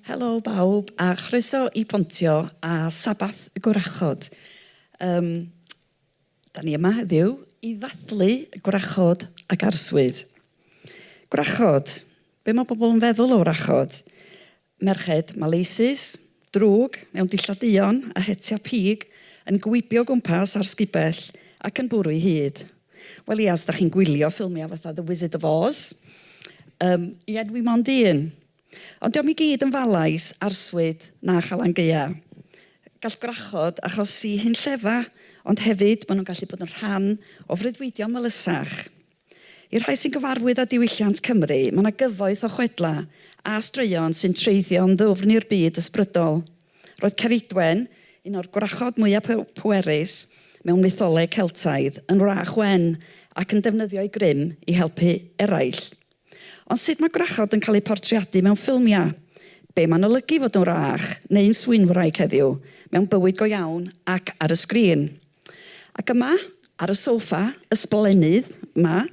Helo bawb a chroeso i Pontio a Sabbath y Gwrachod. Um, da ni yma heddiw i ddathlu gwrachod ac arswyd. Gwrachod, be mae pobl yn feddwl o wrachod? Merched, Maleisus, drwg, mewn dillad duon a hetiau pig, yn gwibio o gwmpas ar sgubell ac yn bwrw ei hyd. Wel ia, os da chi'n gwylio ffilmiau fatha The Wizard of Oz, yym, ia, dwi mond un. Ond dio'm i gyd yn falais, arswyd na Chalan Gaeaf. Gall gwrachod achosi hunllefa, ond hefyd maen nhw'n gallu bod yn rhan o freuddwydion melysach. I'r rhai sy'n gyfarwydd â diwylliant Cymru, mae yna gyfoeth o chwedlau a straeon sy'n treiddio yn ddwfn i'r byd ysbrydol. Roedd Ceridwen, un o'r gwrachod mwyaf pwerus mewn mytholeg Celtaidd, yn wrach wen ac yn defnyddio ei grym i helpu eraill. Ond sut mae gwrachod yn cael eu portreadu mewn ffilmiau? Be mae'n olygu fod yn wrach, neu'n swynwraig heddiw, mewn bywyd go iawn ac ar y sgrin? Ac yma, ar y soffa ysblennydd 'ma,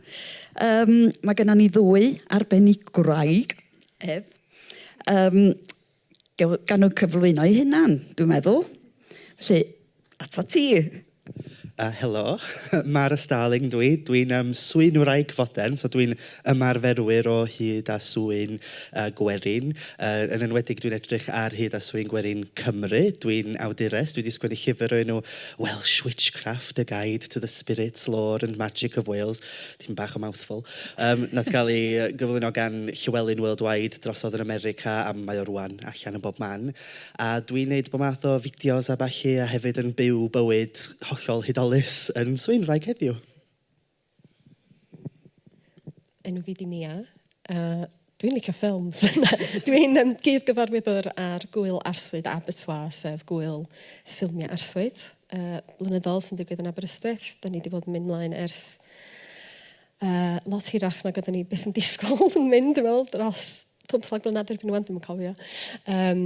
um, mae gennym ni ddwy arbenigwraig, Ef, um, gan nhw cyflwyno eu hunan, dwi'n meddwl. Felly, atat ti. Uh, helo, Mara Starling dwi. Dwi'n um, swyn wraig foden, so dwi'n ymarferwyr o hyd a swyn gwerin, yn enwedig dwi'n edrych ar hyd a swyn gwerin Cymru. Dwi'n awdures, dwi 'di sgwennu llyfr o'r enw Welsh Witchcraft, A Guide to the Spirits, Lore and Magic of Wales, tipyn bach o mouthful, yym wnaeth gael ei gyflwyno gan Llywelyn Worldwide drosodd yn America a mae o rŵan allan yn bob man. A dwi'n wneud bob math o fideos a ballu a hefyd yn byw bywyd hollol hudolus yn swyn wraig heddiw. Enw fi di Nia a dwi'n licio ffilms. dwi'n um, gyd-gyfarwyddwr ar gwyl arswyd Abertoir, sef gwyl ffilmiau arswyd uh, blynyddol sy'n digwydd yn Aberystwyth. Da ni wedi bod yn mynd mlaen ers uh, lot hirach nag oeddwn ni byth yn disgwyl yn mynd, dwi'n meddwl, dros pump fflag blynedd erbyn nhw'n dwi'n cofio. Um,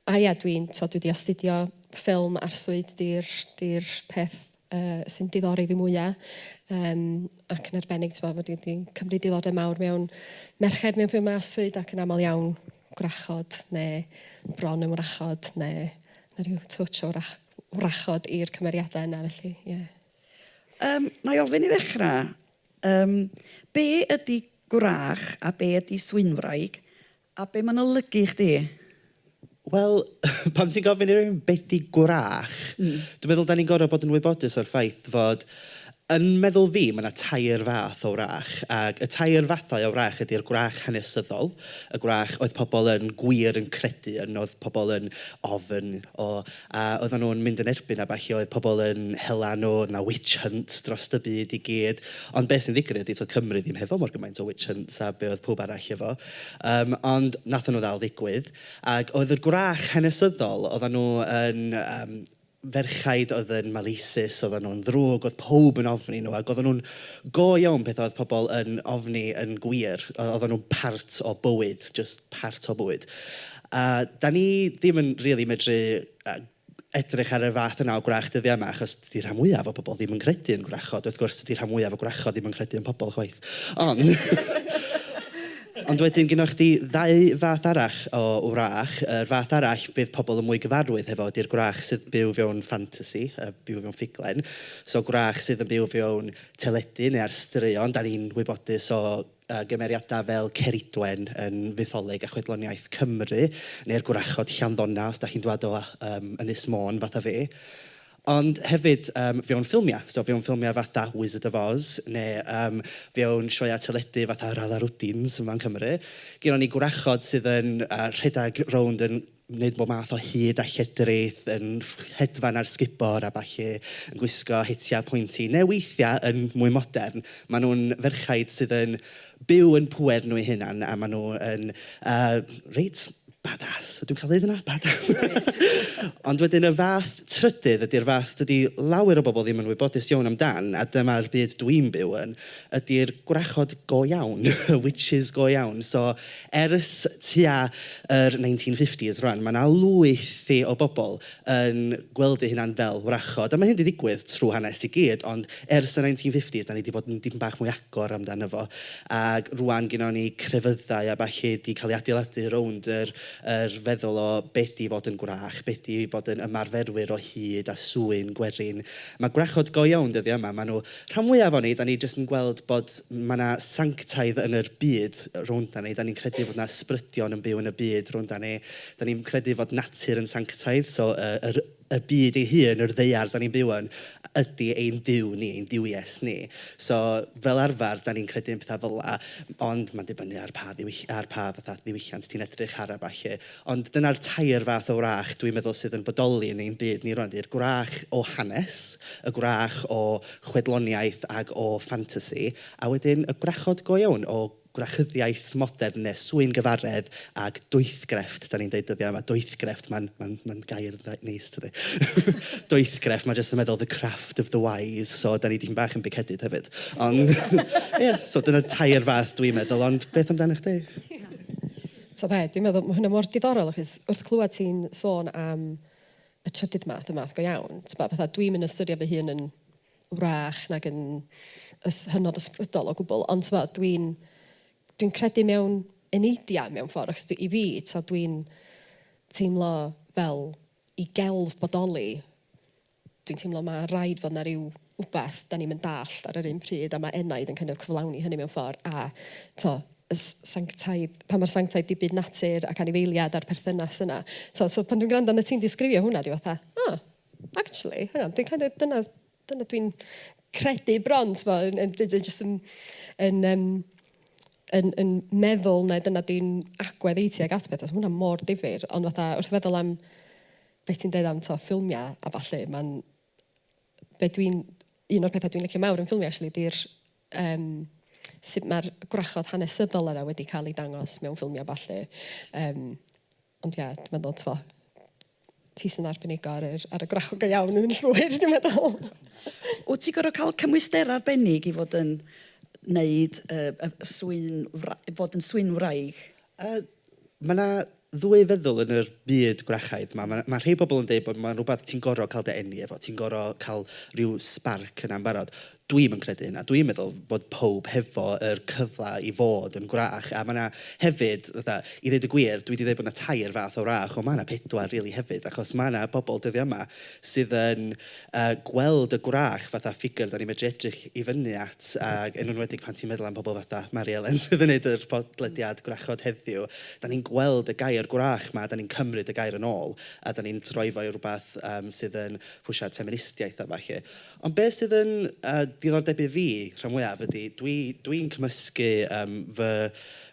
A ia dwi'n t'od dwi 'di astudio ffilm arswyd 'di'r 'di'r peth yy sy'n diddori fi mwya'. Yym ac yn arbennig t'mo' ma' dwi 'di cymryd diddordeb mawr mewn merched mewn ffilmie arswyd ac yn amal iawn gwrachod ne' bron yn wrachod ne' ma' ryw twtsh o wrach- wrachod i'r cymeriada yna felly ie. Yym nâi ofyn i ddechra yym be' ydi gwrach a be' ydi swynwraig A be mae'n olygu i chdi? Wel, pan ti'n gofyn i rywun be ydy gwrach, dwi'n meddwl dan ni'n gorfod bod yn wybodus o'r ffaith fod, yn meddwl fi, mae 'na tair fath o wrach. Ac y tair fathau o wrach ydy'r gwrach hanesyddol, y gwrach oedd pobl yn gwir yn credu yn, oedd pobl yn ofn o, A oeddan nhw'n mynd yn erbyn a ballu, oedd pobl yn hela nhw, oedd 'na witch hunts dros y byd i gyd. Ond be sy'n ddigwydd ydy, toedd Cymru ddim hefo mor gymaint o witch hunts a be oedd pawb arall efo. Yym ond wnaethon nhw ddal ddigwydd. Ac oedd y gwrach hanesyddol, oeddan nhw yn yym ferchaid oedd yn maleisus, oeddan nhw'n ddrwg, oedd pawb yn ofni nhw ac oeddan nhw'n go iawn peth oedd pobl yn ofni yn gwir. Oeddan nhw'n part o bywyd, jyst part o bywyd. A dan ni ddim yn rili medru edrych ar y fath yna o gwrach dyddiau yma achos dydy rhan mwyaf o bobl ddim yn credu yn gwrachod. Wrth gwrs dydy rhan mwyaf o gwrachod ddim yn credu yn pobl chwaith. Ond ond wedyn gynna chdi ddau fath arall o wrach. Yr fath arall bydd pobl yn mwy gyfarwydd hefo ydy'r gwrach sydd yn byw fewn ffantasi, byw mewn ffuglen. So gwrach sydd yn byw fewn teledu neu ar straeon. Dan ni'n wybodus o... a gymeriadau fel Ceridwen yn fytholeg a chwedloniaeth Cymru, neu'r gwrachod Llanddona os dach chi'n dwad o yym Ynys Môn fatha fi. Ond hefyd yym fewn ffilmiau, so fewn ffilmiau fatha Wizard of Oz neu yym fewn sioeau teledu fatha Yr Alarwdins yma yn Cymru, gynnon ni gwrachod sydd yn yy rhedeg rownd yn wneud bob math o hud a lledrith, yn hedfan ar sgubor a ballu, yn gwisgo hitiau pointy, neu weithiau yn mwy modern, maen nhw'n ferchaid sydd yn byw yn pŵer nhw eu hunain a maen nhw yn yy reit bad-ass. Dwi'n cael dweud hynna? Bad-ass! Wyt. Ond wedyn y fath trydydd ydy'r fath dydy lawer o bobl ddim yn wybodus iawn amdan a dyma'r byd dwi'n byw yn. ydy'r gwrachod go iawn, y witches go iawn. So ers tua yr 1950s rŵan, mae 'na lwyth i o bobl yn gweld eu hunain fel wrachod. A mae hyn 'di digwydd trwy hanes i gyd, ond ers y 1950s dan ni 'di bod yn dipyn bach mwy agor amdano fo. Ac rŵan gynnon ni crefyddau a ballu 'di cael eu adeiladu rownd yr yr feddwl o be 'di fod yn gwrach, be 'di bod yn ymarferwyr o hud a swyn gwerin. Mae gwrachod go iawn dyddiau yma, maen nhw... Rhan mwyaf o'n ni, dan ni jyst yn gweld bod ma' 'na sanctaidd yn yr byd rownd 'da ni. Dan ni'n credu fod 'na ysbrydion yn byw yn y byd rownd 'da ni. Dan ni'n credu fod natur yn sanctaidd, so y yr y byd ei hun, yr ddaear dan ni'n byw yn, ydi ein Duw ni, ein duwies ni. So fel arfer, dan ni'n credu yn pethau fel 'na, ond mae'n dibynnu ar pa ddiwyll- ar pa fatha ddiwylliant ti'n edrych ar a ballu. Ond dyna'r tair fath o wrach dwi'n meddwl sydd yn bodoli yn ein byd ni rŵan, ydy'r gwrach o hanes, y gwrach o chwedloniaeth ac o ffantasi, a wedyn y gwrachod go iawn o gwrachyddiaeth modern neu swyngyfaredd ac doethgrefft, dan ni'n deud dyddiau yma, doethgrefft, mae'n mae'n mae'n gair reit neis tydi? doethgrefft, mae jyst yn meddwl the craft of the wise, so dan ni dipyn bach yn big-headed hefyd. Ond ie, so dyna tair fath dwi'n meddwl, ond beth amdanach chdi? T'o' be', dwi'n meddwl ma' hwnna mor diddorol achos wrth clwad ti'n sôn am y trydydd math, y math go iawn, t'bo' fatha dwi'm yn ystyried fy hun yn wrach nag yn ys- hynod ysbrydol o gwbl, ond t'bo' dwi'n dwi'n credu mewn eneidiau mewn ffordd achos dwi... i fi, t'o' dwi'n teimlo fel i gelf bodoli, dwi'n teimlo ma' raid fod 'na ryw wbath 'dan ni'm yn dallt ar yr un pryd, a ma' enaid yn kind of cyflawni hynny mewn ffor, a t'mo' y s- sanctaidd, pa mor sanctaidd 'di byd natur ac anifeiliad a'r perthynas yna. T'mo' so pan dwi'n gwrando arnat ti'n disgrifio hwnna dwi fatha, 'o, actually, hang on, dwi'n kind of, dyna Dyna dwi'n credu bron, tibod, yn yn d- d- jyst yn yn yym yn yn meddwl mai dyna di'n agwedd i tuag at pethau. Ma' hwnna mor difyr, ond fatha wrth feddwl am be ti'n deud am tibod ffilmiau a ballu, mae'n... be dwi'n... un o'r pethau dwi'n licio mawr yn ffilmiau acshyli ydy'r yym sut mae'r gwrachod hanesyddol yna wedi cael eu dangos mewn ffilmiau a ballu. Yym, ond ie, dwi'n meddwl, tibod, ti sy'n arbenigo ar yr, ar y gwrachod go iawn yn llwyr, dwi'n meddwl. Wyt ti'n gorfod cael cymwysterau arbennig i fod yn wneud, yy, y swyn wra- fod yn swyn wraig? Yy, mae 'na ddwy feddwl yn yr byd gwrachaidd 'ma. Mae rhei pobl yn deud bod mae'n rhywbeth ti'n gorfod cael dy eni efo, ti'n gorfod cael rhyw sbarc yna yn barod. Dwi ddim yn credu hynna. Dwi'n meddwl bod pawb hefo yr cyfle i fod yn gwrach. A mae 'na hefyd, fatha, i ddeud y gwir, dwi 'di deud bod 'na tair fath o wrach, ond mae 'na pedwar rili hefyd, achos mae 'na bobl dyddiau yma sydd yn a gweld y gwrach fatha ffigur dan ni'n medru edrych i fyny at ac yn enwedig pan ti'n meddwl am pobl fatha Mari Elen sydd yn wneud yr podlediad Gwrachod heddiw, dan ni'n gweld y gair gwrach 'ma, dan ni'n cymryd y gair yn ôl a dan ni'n troi fo i rywbeth yym sydd yn rhwsiad ffeministiaeth a ballu. Ond be sydd yn yy diddordeb i fi rhan fwyaf ydy dwi dwi'n cymysgu yym fy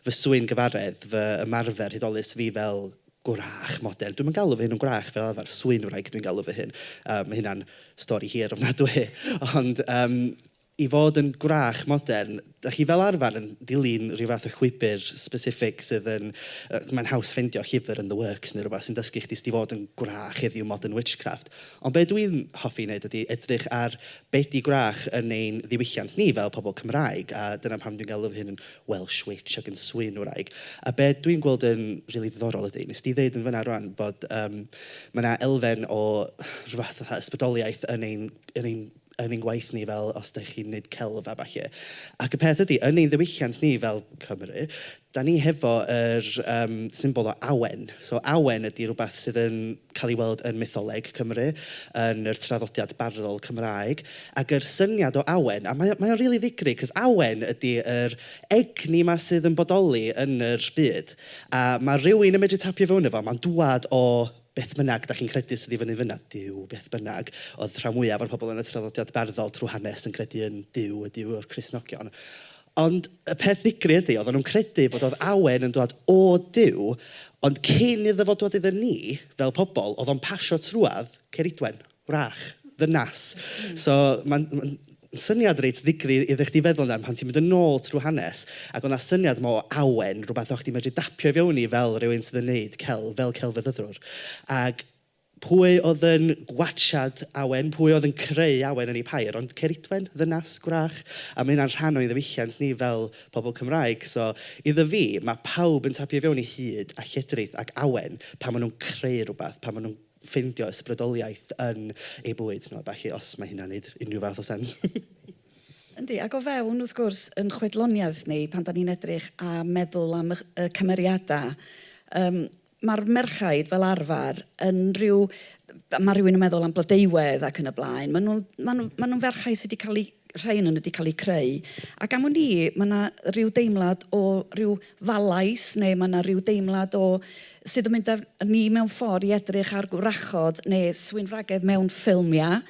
fy swyn gyfaredd, fy ymarfer hudolus fi fel gwrach, modern. Dwi'm yn galw fy hun yn gwrach fel arfer, swy'n-wraig dwi'n galw fy hun. Yy ma' hynna'n stori hir ofnadwy. Ond yym i fod yn gwrach modern, dach chi fel arfer yn dilyn ryw fath o chwibr specific sydd yn... yy mae'n haws ffeindio llyfr yn The Works neu rywbeth sy'n dysgu chdi sut i fod yn gwrach heddiw, modern witchcraft. Ond be dwi'n hoffi ei wneud ydy edrych ar be 'di gwrach yn ein ddiwylliant ni fel pobl Cymraeg, a dyna pam dwi'n galw fy hun yn Welsh Witch ac yn swyn wraig. A be dwi'n gweld yn rili ddiddorol ydy, wnes di ddeud yn fan'na rŵan bod yym ma' 'na elfen o rywbeth fatha ysbrydoliaeth yn ein yn ein yn ein gwaith ni fel os dach chi'n wneud celf a ballu. Ac y peth ydy, yn ein ddiwylliant ni fel Cymry, dan ni hefo yr yym symbol o awen. So awen ydy rywbeth sydd yn... cael ei weld yn mytholeg Cymru, yn yr traddodiad barddol Cymraeg, ac yr syniad o awen, a mae o, mae o'n rili ddigri, 'c'os awen ydi yr egni 'ma sydd yn bodoli yn yr byd, a ma' rywun yn medru tapio fewn i fo, ma'n dŵad o beth bynnag 'dach chi'n credu sydd i fyny fynna, Duw, beth bynnag, o'dd rhan fwyaf o'r pobl yn y traddodiad barddol trw hanes yn credu yn Duw, y Duw o'r Cristnogion, Ond y peth ddigri ydy, oedden nhw'n credu bod oedd awen yn dwad o Duw, ond cyn iddo fo dwad iddyn ni, fel pobl, oedd o'n pasio trwad Ceridwen, wrach, ddynas. So, mae'n ma syniad reit ddigri iddo chdi feddwl amdan pan ti'n mynd yn ôl trwy hanes, ac oedd 'na syniad yma o awen, rhywbeth o' chdi'n medru dapio i fewn i fel rhywun sydd yn wneud celf, fel celfyddydwr. Ac Pwy oedd yn gwatsiad awen? Pwy oedd yn creu awen yn ei phair? Ond Ceridwen, ddynas gwrach, a mae hynna'n rhan o'n ddiwylliant ni fel pobl Cymraeg. So, iddo fi, mae pawb yn tapio i fewn i hud a lledrith ac awen pan maen nhw'n creu rhywbeth, pan maen nhw'n ffeindio ysbrydoliaeth yn eu bwyd nhw a ballu, os mae hynna'n wneud unrhyw fath o sens. Yndi, ac o fewn, wrth gwrs, yn chwedloniaeth ni, pan 'dan ni'n edrych a meddwl am y y cymeriadau, yym ma'r merchaid fel arfer yn ryw... ma' rhywun yn meddwl am Blodeuwedd ac yn y blaen, maen nhw'n maen nhw maen nhw'n ferchau sy' 'di cael eu... rhai ohonyn nhw 'di cael eu creu, ac am wn i, ma' 'na ryw deimlad o ryw falais neu ma' 'na ryw deimlad o sydd yn mynd â ni mewn ffordd i edrych ar gwrachod neu swyn wragedd mewn ffilmiau.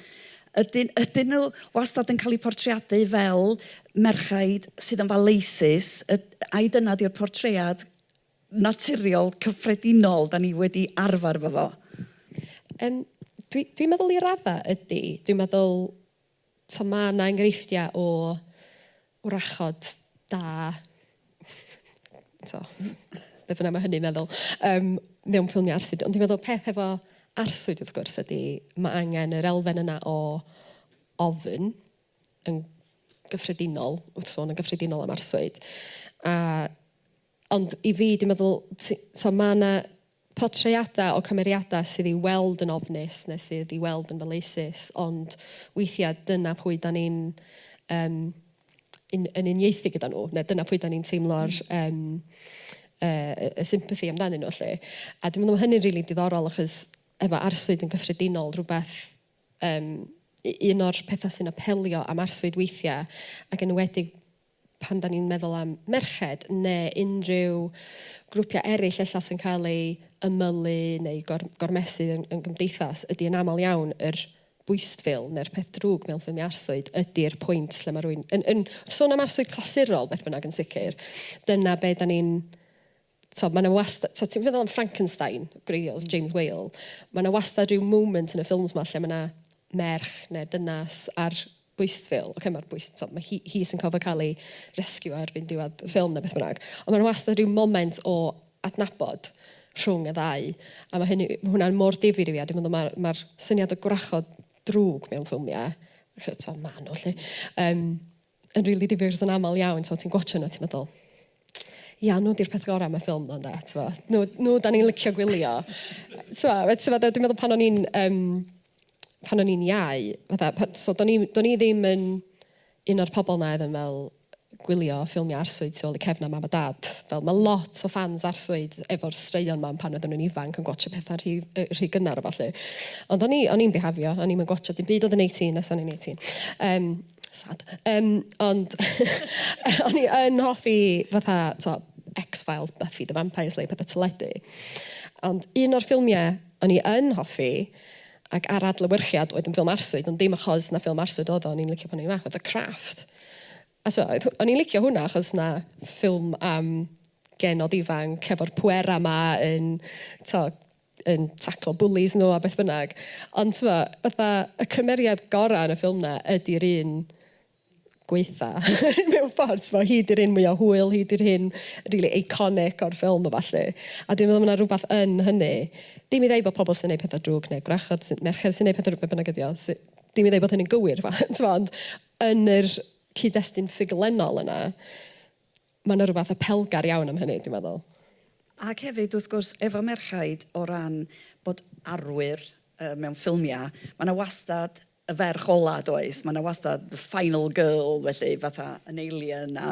Ydyn, ydyn nhw wastad yn cael eu portreadu fel merchaid sydd yn faleisus, yd- ai dyna ydy'r portread naturiol cyffredinol da ni wedi arfer efo fo? Yym dwi dwi'n meddwl i raddau ydy. Dwi'n meddwl, tibod, mae 'na enghreifftiau o wrachod da, t'o', be' bynnag ma' hynny'n meddwl, yym mewn ffilmiau arswyd. Ond dwi'n meddwl peth efo arswyd wrth gwrs ydy ma' angen yr elfen yna o ofn yn gyffredinol, wrth sôn yn gyffredinol am arswyd a Ond i fi, dwi'n meddwl, ti- so ma' 'na portreadau o cymeriadau sydd i'w weld yn ofnus neu sydd i'w weld yn faleisus, ond weithiau dyna pwy dan ni'n yym un- yn uniaethu gyda nhw, neu dyna pwy dan ni'n teimlo'r yym yy y sympathy amdanyn nhw 'lly. A dwi'n meddwl ma' hynny'n rili diddorol achos efo arswyd yn gyffredinol rywbeth yym u- un o'r pethau sy'n apelio am arswyd weithiau ac yn enwedig pan dan ni'n meddwl am merched neu unrhyw grwpiau eraill ella sy'n cael eu ymylu neu gor, gormesu yn, yn gymdeithas, ydy yn aml iawn yr bwystfil neu'r peth drwg mewn ffilmiau arswyd ydy'r pwynt lle mae rwy'n... Yn, yn, sôn am arswyd clasurol, beth bynnag yn sicr, dyna be da ni'n tibod, mae 'na wast- tibod ti'n meddwl am Frankenstein, gwreiddiol, James Whale, mae 'na wastad ryw moment yn y ffilms 'ma lle mae 'na merch neu ddynas ar bwystfil, ocê ma'r bwys- tibod ma' hi hi sy'n gorfod cael ei resciwio erbyn diwedd y ffilm neu beth bynnag, ond mae 'na wastad ryw moment o adnabod rhwng y ddau, a ma' hynny... ma' hwnna mor difyr i fi a dwi'n meddwl ma'r ma'r syniad o gwrachod drwg mewn ffilmiau, achos tibod maen nhw 'lly yym. yn rili difyr achos yn aml iawn t'mo' ti'n gwatsio nw a ti'n meddwl ia nw 'di'r peth gora' am y ffilm 'ma ynde t'mo'? Nw nw 'dan ni'n licio gwylio. T'mo' ma' t'mo' fel dwi'n meddwl pan o'n i'n yym pan o'n i'n iau fatha pan so do'n i'm do'n i ddim yn un o'r pobol 'na oedd yn fel gwylio ffilmia' arswyd tu ôl i cefn a mam a dad. Fel ma' lot o ffans arswyd efo'r straeon 'ma am pan oedden nhw'n ifanc yn gwatsio petha rhy yy rhy gynnar a ballu. Ond o'n i o'n i'n bihafio o'n i'm yn gwatsio dim byd oedd yn eighteen os o'n i'n eighteen. Yym. Sad. Yym ond o'n i yn hoffi fatha tibod X-Files, Buffy the Vampire Slayer, petha teledu. Ond un o'r ffilmiau o'n i yn hoffi ac ar adlewyrchiad oedd yn ffilm arswyd, ond dim achos na ffilm arswyd oedd o, o'n i'n licio pan o'n i'n fach, oedd The Craft. A so oedd... o'n i'n licio hwnna achos 'na ffilm am genod ifanc efo'r pwerau 'ma yn tibod... yn taclo bwlis nhw a beth bynnag. Ond tibod, fatha, y cymeriad gorau yn y ffilm 'na ydy'r un gwaetha mewn ffordd, tibod. Hi 'di'r un mwya hwyl, hi 'di'r un rili iconic o'r ffilm a ballu. A dwi'n meddwl mae 'na rywbeth yn hynny. Dim i ddeud bod pobl sy'n gwneud pethau drwg neu gwrachod sy'n... merched sy'n gwneud pethau drwg, be bynnag ydy o, sy- dim i ddeud bod hynny'n gywir, tibod, ond yn yr cyd-destun ffuglenol yna, Mae 'na rywbeth apelgar iawn am hynny, dwi'n meddwl. Ac hefyd, wrth gwrs, efo merchaid, o ran bod arwyr yy mewn ffilmiau, mae 'na wastad y ferch ola, does? Mae 'na wastad the final girl, felly, fatha yn Alien a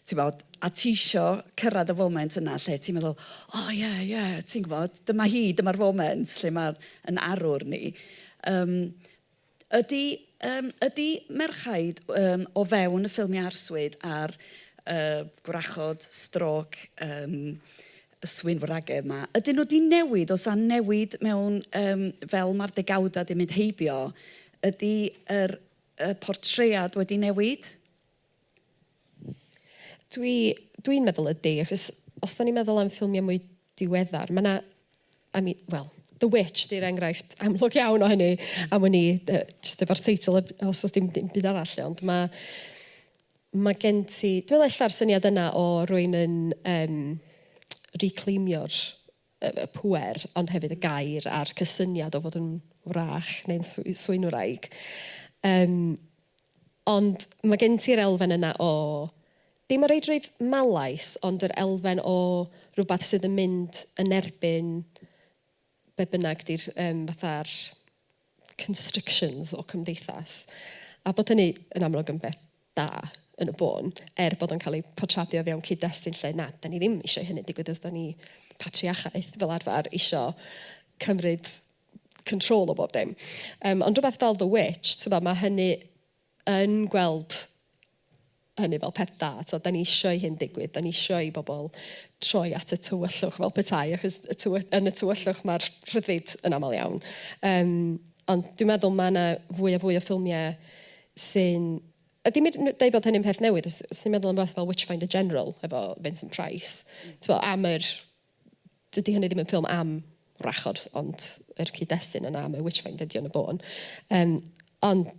ti'mod, a ti isio cyrraedd y foment yna lle ti'n meddwl, o ie, ie, ti'n gwybod, dyma hi, dyma'r foment lle mae yn arwr ni. Yym. Ydy, yym, ydy merchaid, yym, o fewn y ffilmiau arswyd a'r, yy, gwrachod stroke, yym, y swynwragedd 'ma, ydyn nhw 'di newid, oes 'na newid mewn, yym, fel ma'r degawdau 'di mynd heibio, ydy yr, y portread wedi newid? Dwi, dwi'n meddwl ydy, achos os da ni'n meddwl am ffilmiau mwy diweddar, mae yna, I mean, wel, The Witch di'r enghraifft amlwg iawn o hynny, am wn i, yy jyst efo'r teitl, os does dim dim byd arall, ond ma' ma' gen ti... Dwi'n meddwl ella'r syniad yna o rywun yn yym reclaimio'r... y pŵer, ond hefyd y gair a'r cysyniad o fod yn wrach neu'n swy- swynwraig. Yym, ond ma' gen ti'r elfen yna o, dim o reidrwydd malaise, ond yr elfen o rywbeth sydd yn mynd yn erbyn be' bynnag 'di'r yym fatha'r constrictions o cymdeithas. A bod hynny yn amlwg yn beth da yn y bôn, er bod o'n cael ei portreadio o fewn cyd-destun lle na, dan ni ddim eisiau i hynny digwydd os dan ni patriachaeth fel arfer isio cymryd control o bob dim. Yym ond rhywbeth fel The Witch, tibod, mae hynny yn gweld hynny fel peth da. Tibod, dan ni isio i hyn digwydd, dan ni isio i bobl troi at y tywyllwch fel petai, achos y tywy- yn y tywyllwch mae'r rhyddid yn aml iawn. Yym, ond dwi'n meddwl mae yna fwy a fwy o ffilmiau sy'n... a dim yn deud bod hynny'n peth newydd, os ti'n meddwl am beth fel Witchfinder General efo Vincent Price, tibod, am yr dydy hynny ddim yn ffilm am wrachod, ond yr cyd-destun yna am y witchfinder ydy o yn y bôn. Yym, ond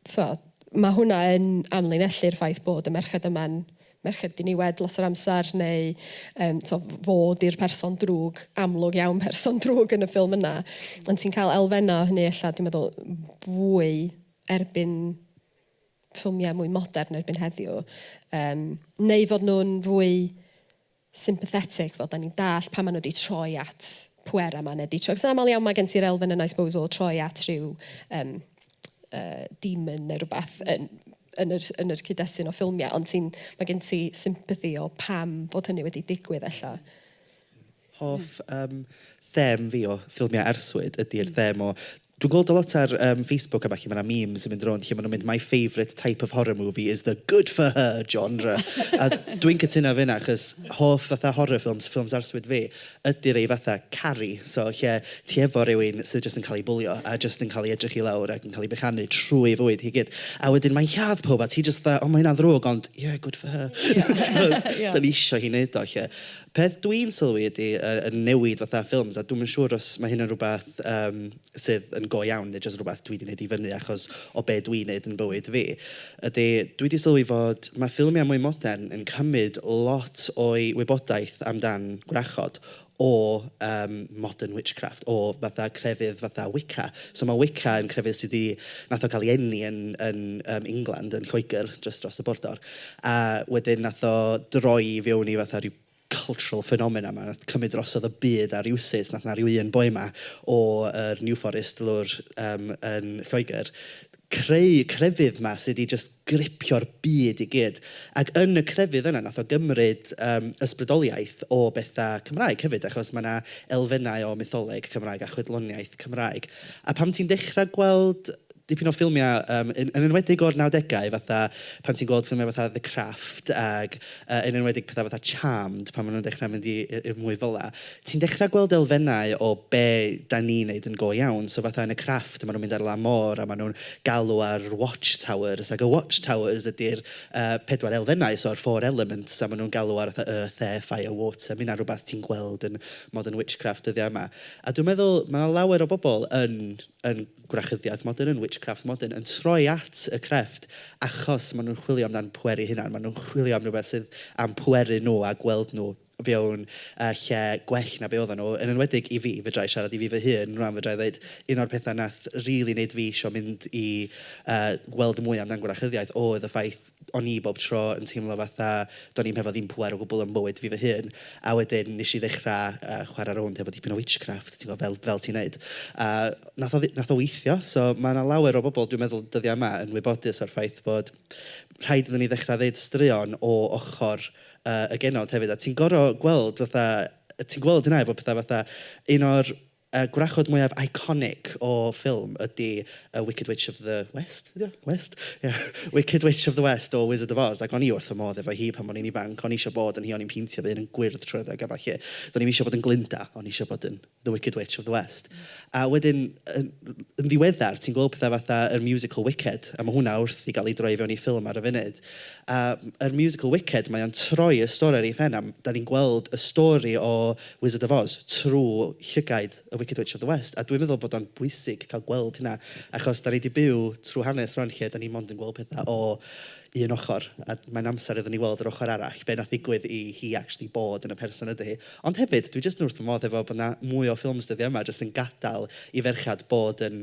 t'mo', ma' hwnna yn amlinellu'r ffaith bod y merched yma'n merched diniwed lot o'r amser neu yym t'mo' f- fo 'di'r person drwg, amlwg iawn person drwg yn y ffilm yna. Ond ti'n cael elfennau o hynny ella dwi'n meddwl fwy erbyn ffilmiau mwy modern erbyn heddiw. Yym neu fod nhw'n fwy sympathetic fel 'dan ni'n dallt pan ma' nw 'di troi at pwera ma' ne' 'di troi... Achos amal iawn ma' gen ti'r elfen yna I suppose o troi at rhyw yym yy demon ne' rwbath yn yn yr yn yr cyd-destun o ffilmia ond ti'n... ma' gen ti sympathy o pam fod hynny wedi digwydd ella. Hoff yym them fi o ffilmia arswyd ydi'r them o Dwi'n gweld o lot ar yym Facebook a ballu, mae 'na memes yn mynd rownd lle maen nhw'n mynd my favourite type of horror movie is the good for her genre! a dwi'n cytuno efo hynna achos hoff fatha horror films, ffilms arswyd fi, ydy rhei fatha Carrie, so lle ti efo rhywun sydd jyst yn cael ei bwlio a jyst yn cael ei edrych i lawr ac yn cael ei bechanu trwy ei fywyd hi i gyd. A wedyn mae'n lladd pawb a ti jyst fatha, o mae hynna'n ddrwg ond ie, good for her. Ie ie ie. Timod, dan ni isio hi wneud o 'lly. Peth dwi'n sylwi ydy y y newid fatha ffilms, a dwi'm yn siŵr os mae hyn yn rywbeth yym sydd yn go iawn neu jyst rywbeth dwi 'di wneud i fyny achos o be dwi'n wneud yn bywyd fi, ydy dwi 'di sylwi fod ma' ffilmiau mwy modern yn cymryd lot o'i wybodaeth amdan gwrachod o yym modern witchcraft, o fatha crefydd fatha Wicca. So ma' Wicca yn crefydd sy 'di... wnaeth o gael ei eni yn yn yym England, yn Lloegr, jyst dros y bordor. A wedyn wnaeth o droi i fewn i fatha ryw cultural phenomena 'ma. Wnaeth cymryd drosodd y byd a rywsut wnaeth 'na ryw un boi 'ma o yr New Forest lawr yym yn Lloegr creu y crefydd 'ma sy' 'di jyst gripio'r byd i gyd. Ac yn y crefydd yna wnaeth o gymryd yym ysbrydoliaeth o bethau Cymraeg hefyd achos ma' 'na elfennau o mytholeg Cymraeg a chwedloniaeth Cymraeg. A pan ti'n dechrau gweld dipyn o ffilmiau yym yn yn enwedig o'r nawdegau fatha pan ti'n gweld ffilmiau fatha The Craft ac yy yn enwedig petha fatha Charmed pan maen nhw'n dechrau mynd i yy i'r mwy fel 'na ti'n dechrau gweld elfennau o be dan ni'n wneud yn go iawn. So fatha yn y Craft maen nhw'n mynd ar lan môr a maen nhw'n galw ar watch towers ac y watch towers ydy'r yy pedwar elfennau so'r four elements a maen nhw'n galw ar fatha earth, air, fire, water. Mae hynna'n rywbeth ti'n gweld yn modern witchcraft dyddiau yma a dwi'n meddwl mae 'na lawer o bobl yn yn gwrachyddiaeth modern, yn witchcraft modern, yn troi at y crefft achos maen nhw'n chwilio amdan pweru eu hunain. Maen nhw'n chwilio am rywbeth sydd am pweru nhw a gweld nhw fewn uh, lle gwell na be oedden nhw. Yn enwedig i fi, fedra i siarad i fi fy hun, rwan fedra i ddweud, un o'r pethau nath rili really wneud fi eisiau mynd i uh, gweld mwy amdan gwrachyddiaeth oedd y ffaith o'n i bob tro yn teimlo fatha do'n i'm hefo ddim pŵer o gwbl yn bywyd fi fy hun. A wedyn wnes i ddechrau yy chwarae rownd hefo dipyn o witchcraft ti'n gwybod, fel fel ti'n wneud. A wnaeth o ddi- wnaeth o weithio. So ma' 'na lawer o bobl dwi'n meddwl dyddiau yma yn wybodus o'r ffaith bod rhaid iddyn ni ddechrau ddeud straeon o ochr yy y genod hefyd. A ti'n gorfod gweld fatha... ti'n gweld hynna efo petha fatha un o'r... Y gwrachod mwyaf iconic o ffilm ydy y Wicked Witch of the West ydy o? West? Ie. Wicked Witch of the West o Wizard of Oz ac o'n i wrth fy modd efo hi pan o'n i'n ifanc. O'n i isio bod yn hi, o'n i'n peintio fy hun yn gwyrdd trwy'r adeg a ballu. Do'n i'm isio bod yn Glinda, o'n i isio bod yn the Wicked Witch of the West. A wedyn yn yn ddiweddar ti'n gweld pethe fatha yr musical Wicked a ma' hwnna wrth i gael ei droi i fewn i ffilm ar y funud. A yr musical Wicked mae o'n troi y stori ar ei phen a m- dan ni'n gweld y stori o Wizard of Oz trwy llygaid y Wicked Witch of the West a dwi'n meddwl bod o'n bwysig cael gweld hynna achos dan ni 'di byw trwy hanes rŵan lle dan ni mond yn gweld pethau o un ochr a mae'n amser iddyn ni weld yr ochr arall, be wnaeth ddigwydd i hi actually bod yn y person ydy hi. Ond hefyd dwi jyst yn wrth fy modd hefo bod 'na mwy o ffilms dyddiau yma jyst yn gadael i ferched bod yn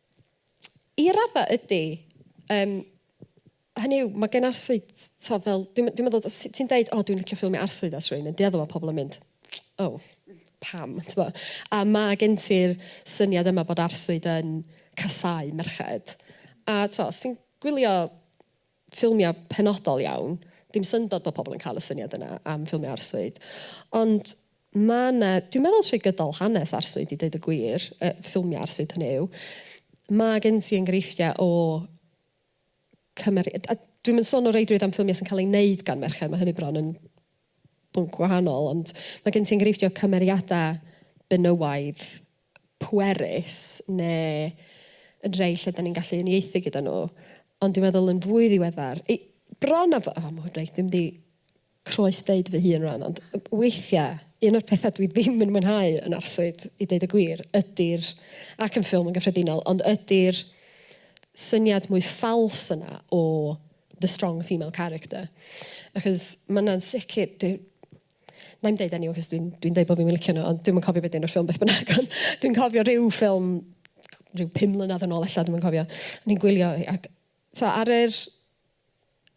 I raddau ydy. Yym, hynny yw, mae gen arswyd, tibod, fel... dwi'n dwi'n meddwl, os ti'n deud, "O, dwi'n licio ffilmio arswyd ers rywun yn dueddol", mae pobl yn mynd, "O, pam?" Tibod? A mae gen ti'r syniad yma bod arswyd yn casáu merched. A tibod, os ti'n gwylio... ffilmiau penodol iawn, dim syndod bod pobl yn cael y syniad yna am ffilmiau arswyd, ond ma' 'na, dwi'n meddwl trwy gydol hanes arswyd i ddeud y gwir, y ffilmiau arswyd hynny yw, ma' gen ti enghreifftiau o cymer-... A a dwi'm yn sôn o reidrwydd am ffilmiau sy'n cael eu wneud gan merched, ma' hynny bron yn bwnc gwahanol, ond ma' gen ti enghreifftiau o cymeriadau benywaidd pwerus neu yn rhei lle 'dan ni'n gallu uniaethu gyda nhw, ond dwi'n meddwl yn fwy ddiweddar, i- bron a bo- o ma' hwn reit, dwi'm 'di croes deud fy hun rŵan, ond weithia', un o'r petha dwi ddim yn mwynhau yn arswyd, i deud y gwir, ydi'r, ac yn ffilm yn gyffredinol, ond ydi'r syniad mwy ffals yna o the strong female character. Achos ma' 'na'n sicr, dwi, Wna i'm deud enw achos dwi'n dwi'n deud bod fi'm yn licio nhw ond dwi'm yn cofio be 'di enw'r ffilm beth bynnag ond dwi'n cofio ryw ffilm ryw pum mlynedd yn ôl ella dwi'm yn cofio. O'n i'n gwylio hi ac tibod ar yr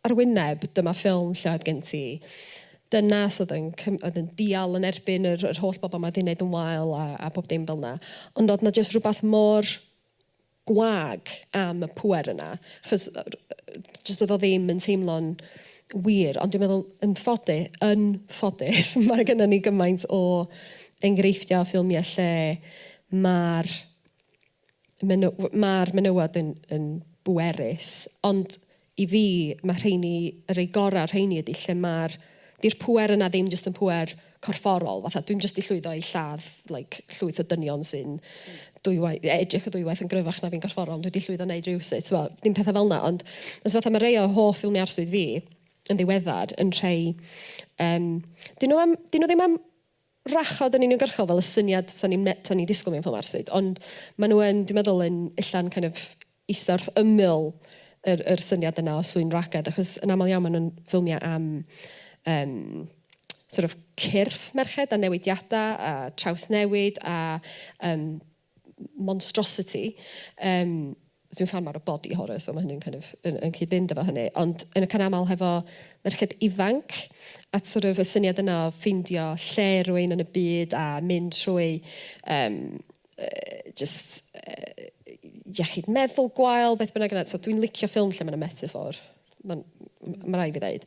ar y wyneb dyma ffilm lle oedd gen ti dynas oedd yn cym- oedd yn dial yn erbyn yr yr holl bobl 'ma 'di wneud yn wael a a pob dim fel 'na. Ond oedd 'na jyst rywbeth mor gwag am y pŵer yna, achos jyst oedd o ddim yn teimlo'n wir, ond dwi'n meddwl yn ffody- yn ffodus ma' gynnon ni gymaint o enghreifftia' o ffilmie lle ma'r meny- w- ma'r menywod yn yn bwerus ond I fi, mae rheiny, y rhai gorau o'r rheiny ydy lle mae'r... 'di'r pŵer yna ddim jyst yn pŵer corfforol, fatha dwi'm jyst 'di llwyddo i lladd like llwyth o dynion sy'n dwywaith... e- edrych yn ddwywaith yn gryfach na fi'n gorfforol, dwi 'di llwyddo wneud rywsut, tibod, dim petha fel 'na. Ond jyst fatha mae rhai o hoff ffilmiau arswyd fi yn ddiweddar yn rhai yym 'dyn nhw am... 'dyn nhw ddim am... rhachod yn uniongyrchol fel y syniad so ni'n me- t'o' ni'n disgwl mewn ffor 'ma rywsut ond ma' nw yn dwi meddwl yn ella'n kind of ista wrth ymyl yr yr syniad yna o sŵn ragedd achos yn amal iawn ma' nw'n ffilmia am yym sort of cyrff merched a newidiada a trawsnewid a yym monstrositi. Yym dwi'n ffan mawr o body horror so ma' hynny'n kind of yn yn cyd-fynd efo hynny. Ond yn y cynamal hefo merched ifanc a sort of y syniad yna o ffeindio lle rwy'n yn y byd a mynd trwy yym yy jyst yy iechyd meddwl gwael, beth bynnag yna. So dwi'n licio ffilm lle ma' 'na metaphor. mae'n ma rai' fi ddeud.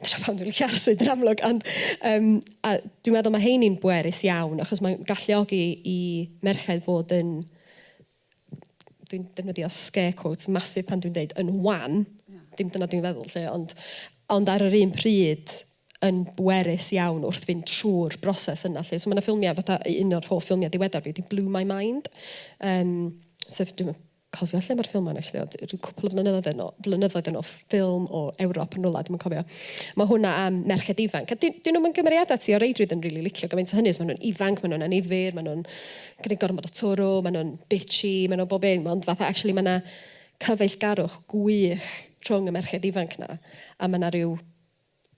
Dyna pam dwi'n licio arswyd yn amlwg, ond um, a dwi'n meddwl mae heini'n bwerus iawn, achos mae'n galluogi i merched fod yn, dwi'n defnyddio scare quotes masif pan dwi'n deud yn wan, yeah. dim dyna dwi'n feddwl lle, ond, ond ar yr un pryd yn bwerus iawn wrth fynd trwy'r broses yna. Lle. So mae yna ffilmiau, fatha un o'r hoff ffilmiau diweddar fi, di Blue My Mind, um, sef dwi'n cofio lle mae'r ffilm 'ma yn actually ond ryw cwpwl o flynyddoedd yn ôl flynyddoedd yn ôl ff- ffilm o Ewrop yn rwla dwi'm yn cofio. Ma' hwnna am merched ifanc a 'di 'dyn nw'm yn gymeriada ti o reidrwydd yn rili licio gymaint o hynny os ma' nw'n ifanc ma' nw'n annifyr ma' nw'n gneud gormod o twrw ma' nw'n bitchy ma' nw bob un ond fatha actually ma' 'na cyfeillgarwch gwych rhwng y merched ifanc 'na a ma' 'na ryw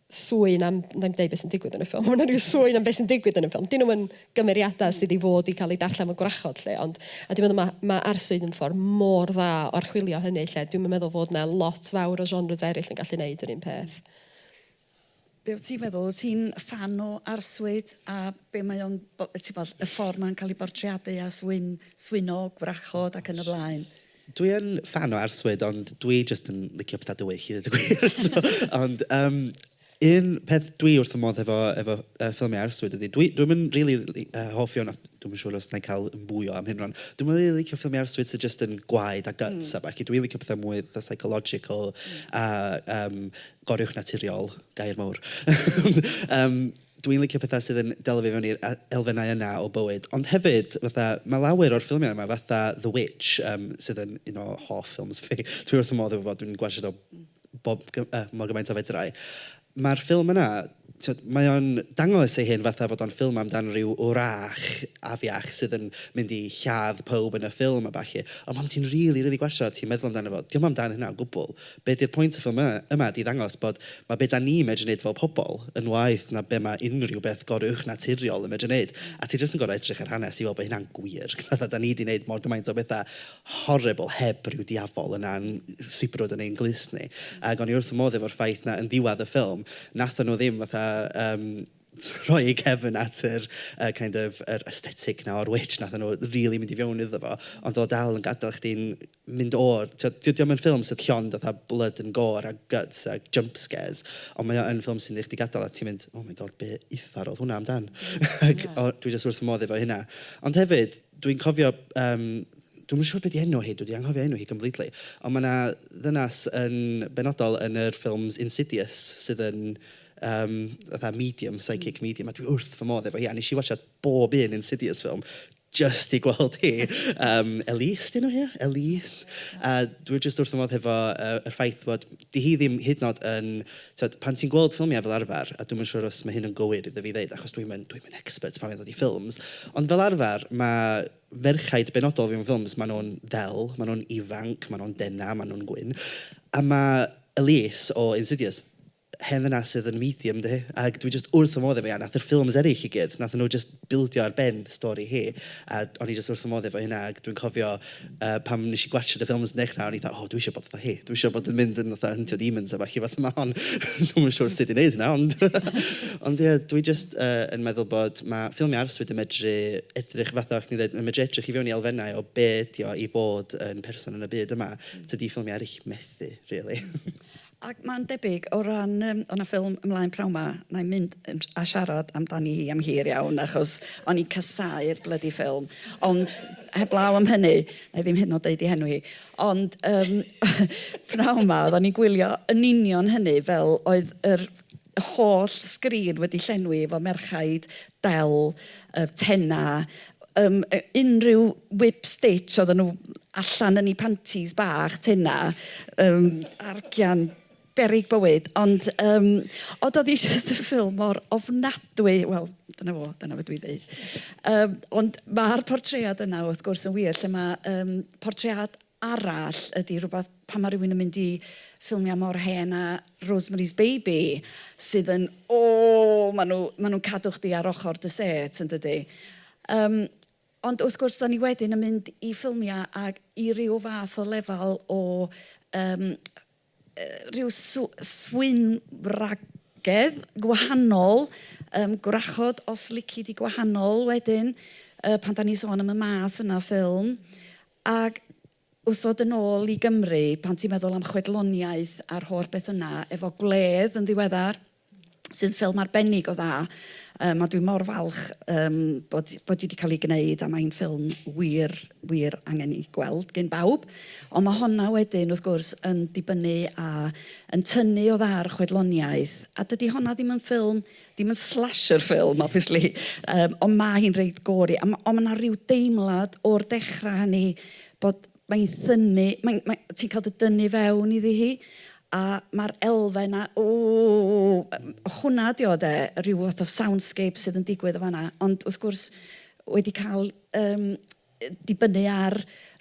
sŵyn am, na i'n deud beth sy'n digwydd yn y ffilm, ond rhyw sŵyn am beth sy'n digwydd yn y ffilm. Dyn nhw'n gymeriadau sydd wedi fod i cael eu darllen fel gwrachod, lle, ond... A dwi'n meddwl mae ma arswyd yn ffordd mor dda o archwilio hynny, lle dwi'm yn meddwl fod yna lot fawr o genres eraill yn gallu neud yr un peth. Be wyt ti'n feddwl? Wyt ti'n ffan o arswyd a be mae o'n... ti'n gwybod, y ffordd mae'n cael ei bortreadu a swyn, swyno gwrachod ac yn y blaen? Dwi yn ffan o arswyd ond dwi jyst yn licio petha dywyll i ddeud y gwir so... ond yym un peth dwi wrth fy modd hefo efo yy ffilmiau arswyd ydy dwi dwi'm yn rili li- yy hoff iawn o... dwi'm yn siŵr os wna i cael yn fwy o amheuron dwi'm yn rili licio ffilmiau arswyd sy jyst yn gwaed a guts a ballu dwi'n licio pethau mwy fatha psychological a yym gorywch naturiol gair mawr yym. Dwi'n licio petha sydd yn delo fi fewn i'r e- elfennau yna o bywyd. Ond hefyd fatha ma' lawer o'r ffilmiau yma fatha The Witch yym sydd yn un o hoff ffilms fi. Dwi wrth fy modd efo fo, dwi'n gwatshio do bob g- yy mor gymaint a fedra i. Ma'r ffilm yna tibod mae o'n dangos ei hun fatha fod o'n ffilm amdan ryw wrach afiach sydd yn mynd i lladd pawb yn y ffilm a ballu. Ond pan ti'n rili rili gwatshio a ti'n meddwl amdano fo, dio'm amdan hynna o gwbl. be di'r pwynt fy ma yma ydi ddangos bod ma be da ni medru neud fel pobl yn waeth na be ma unrhyw beth goruwch naturiol yn medru neud a ti jyst yn gorau edrych ar hanes i weld bod hynna'n gwir fatha da ni di neud mor gymaint o betha horrible heb ryw diafol yna'n sibrwd yn ein glust ni ag o'n i wrth fy modd efo'r ffaith na yn ddiwedd y ffilm nathon nhw ddim fatha yym rhoi eu cefn at yr yy kind of yr aesthetic na o'r witch nathon nhw rili mynd i fewn iddo fo ond o'dd o dal yn gadel chdi'n mynd o'r... tibod, dydy o ddim yn ffilm sydd llond fatha blood and gore a guts a jump scares, ond mae o yn ffilm sy'n wneud chdi gadael a ti'n mynd "oh my god, be uffar oedd hwnna amdan?" ac o- dwi jyst wrth fy modd efo hynna. Ond hefyd, dwi'n cofio yym, dwi'm yn siŵr be 'di enw hi, dwi 'di anghofio enw hi completely, ond ma' 'na ddynas yn benodol yn yr ffilms Insidious sydd yn yym fatha medium, psychic medium, a dwi wrth fy modd efo hi a wnes i watsiad bob un Insidious ffilm jyst i gweld hi. Yym Elise 'di enw hi? Elise. A dwi jyst wrth fy modd hefo y y ffaith bod 'di hi ddim hyd yn oed yn... Tibod pan ti'n gweld ffilmiau fel arfer, a dwi'm yn siŵr os ma' hyn yn gywir idda fi ddeud achos dwi'm yn dwi'm yn expert pan mae'n dod i ffilms, ond fel arfer ma' merchaid benodol mewn ffilms, maen nhw'n ddel, maen nhw'n ifanc, maen nhw'n denau, maen nhw'n gwyn, a ma' Elise o Insidious hen ddynas sydd yn medium 'di hi, ac dwi jyst wrth fy modd efo hi, a wnaeth yr ffilms eraill i gyd, wnaethon nhw jyst bildio ar ben stori hi, a o'n i jyst wrth fy modd efo hynna, ac dwi'n cofio yy pan wnes i gwatsiad y ffilms yn dechrau, o'n i fatha "o dwi isio bod fatha hi, dwi isio bod yn mynd yn fatha Hunter Demons a ballu fatha 'ma, ond dwi'm yn siŵr sut i wneud hynna, ond" . Ond ia, dwi jyst yy yn meddwl bod, ma' ffilmiau arswyd yn medru edrych fatha oeddach chdi'n ddeud, mae'n medru edrych i fewn i elfennau o be ydy o i fod yn person yn y byd yma, tydi ffilmiau eraill methu rili. Ac mae'n debyg o ran yym o' 'na ffilm ymlaen pnawn 'ma, wna i mynd yn s- a siarad amdani hi am hir iawn achos o'n i'n casáu'r blydi ffilm ond heblaw am hynny, wna i ddim hyd yn oed deud ei henw hi, ond yym pnawn 'ma oedden ni'n gwylio yn union hynny fel oedd yr y holl sgrin wedi llenwi efo merchaid del, yy tena, yym unrhyw whip stitch oedden nhw allan yn eu pantis bach, tena, yym argian beryg bywyd. Ond yym o doedd hi jyst yn ffilm mor ofnadwy, wel dyna fo, dyna be dwi'n ddeud. Yym ond ma'r portread yna wrth gwrs yn wir lle mae yym portread... arall ydy rhywbeth, pan mae rhywun yn mynd i ffilmiau mor hen â Rosemary's Baby, sydd yn, o! maen nhw, maen nhw'n cadw chdi ar ochr dy set, yn dydy? Yym, ond wrth gwrs, dan ni wedyn yn mynd i ffilmiau ag i ryw fath o lefel o yym rhyw swyn-wragedd gwahanol, yym gwrachod os lici di gwahanol wedyn, yy pan dan ni'n sôn am y math yna o ffilm, ac wrth ddod yn ôl i Gymru, pan ti'n meddwl am chwedloniaeth a'r holl beth yna, efo Gwledd yn ddiweddar, sy'n ffilm arbennig o dda yym a dwi mor falch yym bod bod hi 'di cael ei gwneud a mae'n ffilm wir wir angen ei gweld gan bawb ond ma' honna wedyn wrth gwrs yn dibynnu a yn tynnu o dda ar y chwedloniaeth a dydy honna ddim yn ffilm ddim yn slasher ffilm obviously yym ond ma' hi'n reit gory a ma' ond ma' 'na ryw deimlad o'r dechrau hynny bod mae'n thynnu, mae'n... mae... ti'n cael dy dynnu fewn iddi hi, a ma'r elfen 'na, ww, hwnna ydy o de, ryw fath o soundscape sydd yn digwydd yn fan'na, ond wrth gwrs wedi cael yym dibynnu ar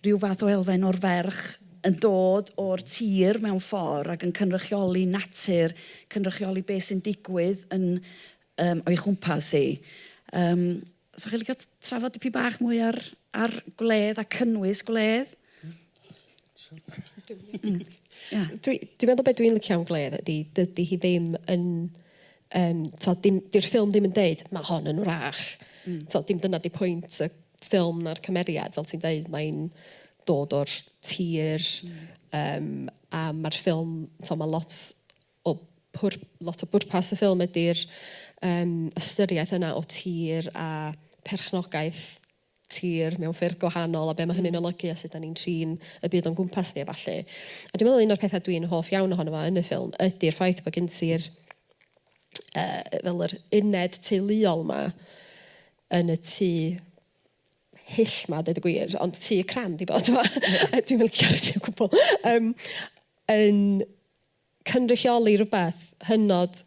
ryw fath o elfen o'r ferch yn dod o'r tir mewn ffordd ac yn cynrychioli natur, cynrychioli be sy'n digwydd yn yym o'i chwmpas hi. Yym. 'Sa chi'n licio trafod dipyn bach mwy ar ar gwledd a cynnwys gwledd? Hmm. Ia. Dwi dwi meddwl be' dwi'n licio am gwledd ydi dydi hi ddim yn yym t'od dim 'di'r ffilm ddim yn deud ma' hon yn wrach. Hmm. T'od dim dyna 'di pwynt y ffilm na'r cymeriad fel ti'n deud mae'n dod o'r tir... Hmm. ...yym a ma'r ffilm t'o' ma' lot o pwr- lot o bwrpas y ffilm ydy'r yym ystyriaeth yna o tir a perchnogaeth tir mewn ffyrdd gwahanol a be' ma' hynny'n olygu a sut 'dan ni'n trin y byd o'n gwmpas ni a ballu. A dwi meddwl un o'r petha dwi'n hoff iawn ohono fo yn y ffilm ydy'r ffaith bo' gen ti'r yy fel yr uned teuluol 'ma yn y tŷ hyll 'ma deud y gwir ond tŷ crand i fo' t'mo'? Ie. Dwi'm yn licio ar y tŷ o gwbwl. Yym yn cynrychioli rhywbeth hynod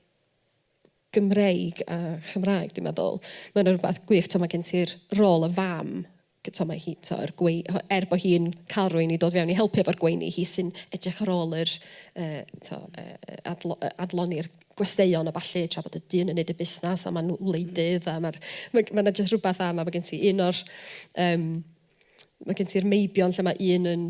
Gymreig a Chymraeg dwi'n meddwl. Mae yna rywbeth gwych, timod, mae gen ti'r rôl y fam, timod, mae hi, timod, yr gwei-... er bod hi'n cael rhywun i dod fewn i helpu efo'r gweini, hi sy'n edrych ar ôl yr yy timod yy yy adlo- yy adloni'r gwesteion a ballu tra bod y dyn yn wneud y busnes a maen nhw'n wleidydd a ma'r... mae 'na jyst rywbeth am a mae gen ti un o'r yym... Mae gen ti'r meibion lle mae un yn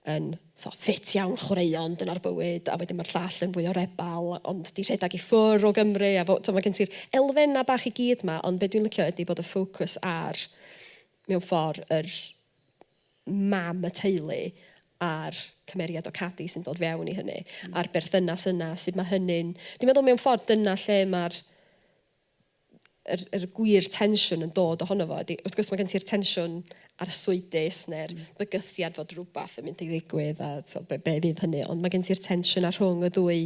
yn so ffit iawn chwaraeon, dyna'r bywyd, a wedyn mae'r llall yn fwy o rebel ond 'di rhedeg i ffwr' o Gymru a fo- t'o' mae gen ti'r elfennau bach i gyd 'ma ond be dwi'n licio ydi bod y ffocws ar mewn ffordd yr mam y teulu a'r cymeriad o Cadi sy'n dod fewn i hynny a'r berthynas yna, sut mae hynny'n... Dwi'n meddwl mewn ffordd dyna lle ma'r yr yr gwir tensiwn yn dod ohono fo ydy, wrth gwrs ma' gen ti'r tensiwn arswydus neu'r... mm. ...bygythiad fod rywbeth yn mynd i ddigwydd a tibod be be fydd hynny, ond ma' gen ti'r tensiwn 'na rhwng y ddwy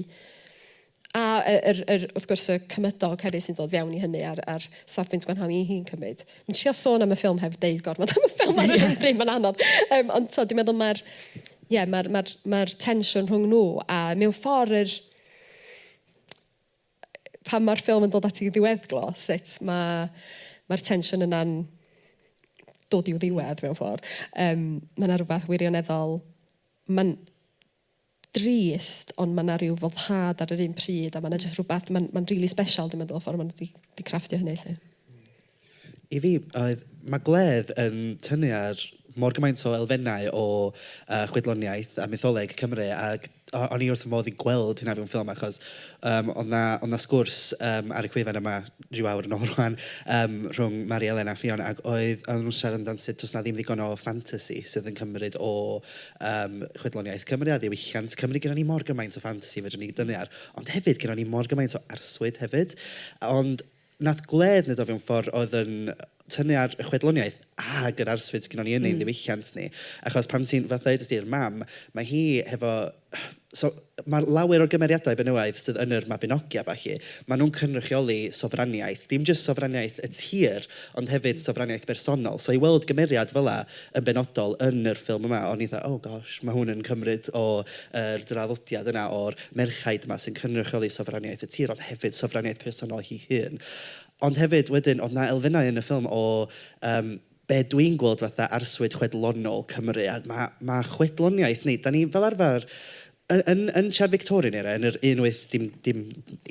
a y yr yr wrth gwrs y cymydog hefyd sy'n dod fewn i hynny a'r a'r safbwynt gwanhau i hi'n cymryd. Dwi'n trio sôn am y ffilm heb deud gormod am y ffilm ar yr un pryd, mae'n anodd. Yym ond tibod dwi'n meddwl mae'r ie mae'r mae'r mae'r tensiwn rhwng nhw a mewn ffordd yr pan mae'r ffilm yn dod at ei ddiweddglo, sut mae mae'r tensiwn yna'n dod i'w ddiwedd mewn ffordd. Um, mae yna rhywbeth wirioneddol... Mae'n drist, ond mae yna rhyw foddhad ar yr un pryd, a mae yna jyst rhywbeth, mae'n ma rili really special, dwi'n meddwl, ffordd maen nhw wedi crafftio hynny, lle. I fi, oedd, mae gwledd yn tynnu ar mor gymaint o elfennau o yy chwedloniaeth a mytholeg Cymru ac o- o'n i wrth fy modd i gweld hynna mewn ffilm achos yym oedd 'na oedd 'na sgwrs yym ar y gwefan yma ryw awr yn ôl rŵan yym rhwng Mari Elen a Ffion ac oedd oedden nhw'n siarad amdan sut does 'na ddim ddigon o ffantasi sydd yn cymryd o yym chwedloniaeth Cymru a ddiwylliant Cymru. Gennyn ni mor gymaint o ffantasi fedrwn ni dynnu ar ond hefyd gennyn ni mor gymaint o arswyd hefyd ond Nath Gledd neud o fewn ffordd oedd yn tynnu ar y chwedloniaeth ag yr arswyd sgynnon ni yn ein ddiwylliant ni. Achos pan ti'n fatha ddeudais di, 'r mam, mae hi hefo so ma' lawer o'r gymeriadau benywaidd sydd yn yr Mabinogi a ballu, ma' nhw'n cynrychioli sofraniaeth. Dim jyst sofraniaeth y tir, ond hefyd sofraniaeth bersonol. So i weld gymeriad fela yn benodol yn yr ffilm yma, o'n i fatha oh gosh, ma' hwn yn cymryd o yr draddodiad yna o'r merchaid 'ma sy'n cynrychioli sofraniaeth y tir ond hefyd sofraniaeth personol hi hun. Ond hefyd wedyn oedd 'na elfennau yn y ffilm o yym be dwi'n gweld fatha arswyd chwedlonol Cymru a ma' ma' chwedloniaeth neu dan ni fel arfer Yn, yn, yn tra Victorian era, yn yr un wyth, dim, dim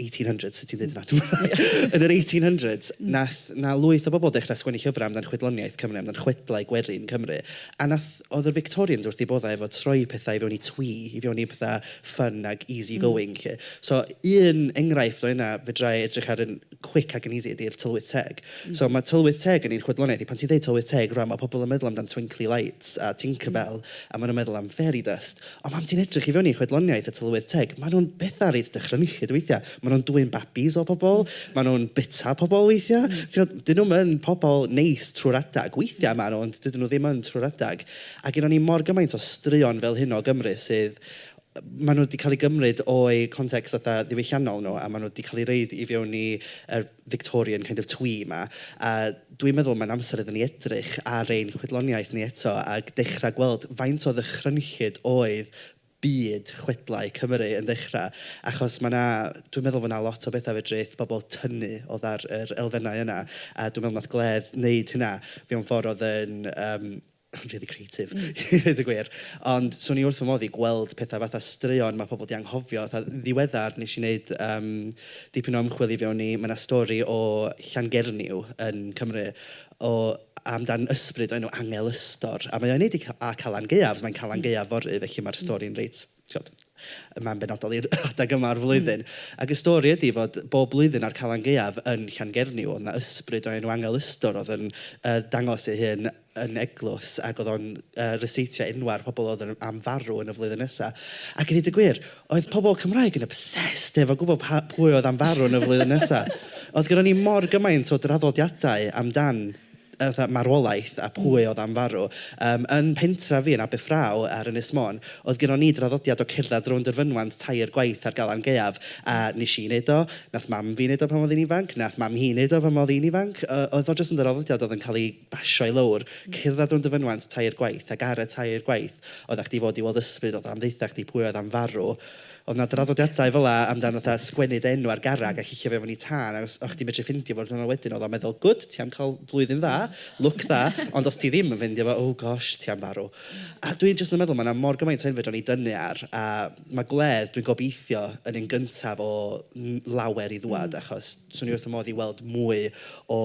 1800s, sut ti'n dweud hynna? yn yr 1800s, mm. nath, na lwyth o bobl dechrau sgwennu llyfrau amdan chwedloniaeth Cymru, amdan chwedlau gwerin Cymru. A nath, oedd yr Victorians wrth i boddau efo troi pethau i fewn i twi, i fewn i pethau fun ag easy mm. going. Mm. So, un enghraifft o yna, fe drai edrych ar yn quick ag yn easy ydy'r tylwyth teg. Mm. So, mae tylwyth teg yn ein chwedloniaeth i. Pan ti'n dweud tylwyth teg, rwan, mae pobl yn meddwl amdan twinkly lights a Tinkerbell, mm. a maen nhw'n meddwl am fairy dust. Ond pan ti'n edrych i fewn i chwedloniaeth y tylwyth teg, maen nhw'n bethau reit dychrynllyd weithiau. Maen nhw'n dwyn babis o bobl, maen nhw'n byta pobl weithiau. Tibod, 'dyn nhw'm yn pobl neis trwy'r adeg. Weithiau maen nhw, ond dydyn nhw ddim yn trwy'r adeg. A gennyn ni mor gymaint o straeon fel hyn o Gymru sydd... maen nhw 'di cael eu gymryd o'u context fatha ddiwylliannol nhw a maen nhw 'di cael eu rhoid i fewn i yr... Victorian kind of twee 'ma. A dwi'n meddwl mae'n amser iddyn ni edrych ar ein chwedloniaeth ni eto ac dechrau gweld faint o ddychrynllyd oedd byd chwedlau Cymru yn dechrau. Achos mae 'na... dwi'n meddwl fod 'na lot o bethau fedrith pobl tynnu o ddar yr elfennau yna a dwi'n meddwl wnaeth Gledd wneud hynna mewn ffordd oedd yn yym... yn rili creatif i ddweud y gwir. Ond 'swn i wrth fy modd i gweld petha fatha straeon ma' pobl 'di anghofio. Fatha yn ddiweddar wnes i wneud yym dipyn o ymchwil i fewn i... ma' 'na stori o Llangernyw yn Cymru o... amdan ysbryd o'r enw Angel Ystor a mae o i wneud â Calan Gaeaf. Mae'n Calan Gaeaf fory felly mae'r stori'n reit... Tibod, y man benodol i'r adeg yma o'r flwyddyn. Mm. Ac y stori ydy fod bob blwyddyn a'r Calan Gaeaf yn Llangernyw, oedd 'na ysbryd o enw Angel Ystor oedd yn yy dangos ei hun yn eglws ac oedd o'n yy ryseitio enwau'r pobl oedd yn am farw yn y flwyddyn nesa. Ac i ddeud y gwir, oedd pobl Cymraeg yn obsessed efo gwybod pa- pwy oedd am farw yn y flwyddyn nesa. Oedd gynnon ni mor gymaint o draddodiadau amdan fatha marwolaeth a pwy oedd am farw. Yym, yn pentref fi yn Aberffraw ar Ynys Môn, oedd gynnon ni draddodiad o cerdded rownd yr fynwant tair gwaith ar Galan Gaeaf, a wnes i wneud o, wnaeth mam fi wneud o pan oedd hi'n ifanc, wnaeth mam hi'n wneud o pan oedd hi'n ifanc. O- oedd o jyst yn draddodiad oedd yn cael ei basio i lawr, cerdded rownd y fynwant tair gwaith, ac ar y tair gwaith, oeddach chdi fod i weld ysbryd, oedd o'n ddeutha chdi pwy oedd am farw. Oedd 'na draddodiadau fel 'na amdan fatha sgwennu dy enw ar garreg a cicio fe fewn i tân ac os o'ch chdi'n medru ffeindio fo diwrnod wedyn oedd o'n meddwl good ti am cael blwyddyn dda, lwc dda ond os ti ddim yn ffeindio fo oh gosh ti am farw. A dwi jyst yn meddwl ma' 'na mor gymaint o enfyd o'n i dynnu ar a ma' gwledd dwi'n gobeithio yn un gyntaf o n- lawer i ddŵad achos 'swn i wrth fy modd i weld mwy o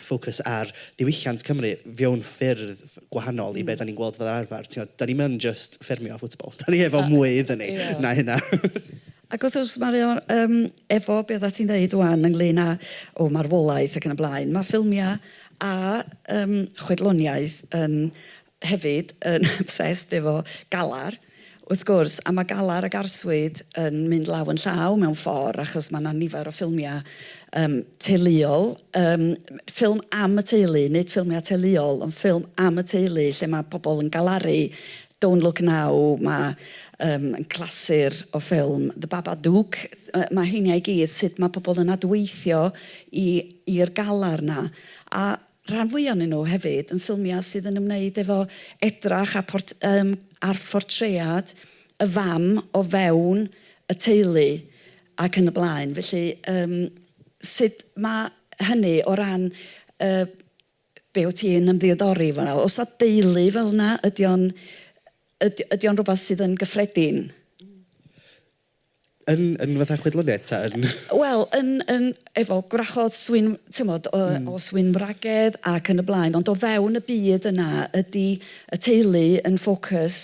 ffocws ar ddiwylliant Cymru fewn ffyrdd gwahanol i be dan ni'n gweld fel arfer. Tibod, dan ni'm yn jyst ffermio a football. Dan ni efo mwy iddyn ni na hynna. Ac wrth gwrs, mae o'n, um, efo be oedda ti'n dweud wan ynglyn â o, oh, marwolaeth ac yn y blaen, mae ffilmiau a um, chwedloniaeth yn hefyd yn obsessed efo galar Wrth gwrs, a mae galar ac arswyd yn mynd law yn llaw mewn ffordd achos mae 'na nifer o ffilmiau yym teuluol, yym ffilm am y teulu, nid ffilmiau teuluol ond ffilm am y teulu lle mae pobl yn galaru, Don't Look Now, mae yym yn clasur o ffilm, The Babadook, yy mae heiniau i gyd, sut mae pobl yn adweithio i i'r galar 'na a rhan fwya o'nyn nhw hefyd yn ffilmia sydd yn ymwneud efo edrach a port- yym ar phortread y fam o fewn y teulu ac yn y blaen felly yym sud ma' hynny o ran yy be' wt ti'n ymddiodori efo 'na o's 'na deulu fel 'na ydi o'n yd- ydi o'n rwbath sydd yn gyffredin? Yn, yn fatha chwedloniaeth ta yn... Wel, yn, yn, efo gwrachod swyn, tymod, o, mm. o swyn wragedd ac yn y blaen, ond o fewn y byd yna, ydy y teulu yn ffocws?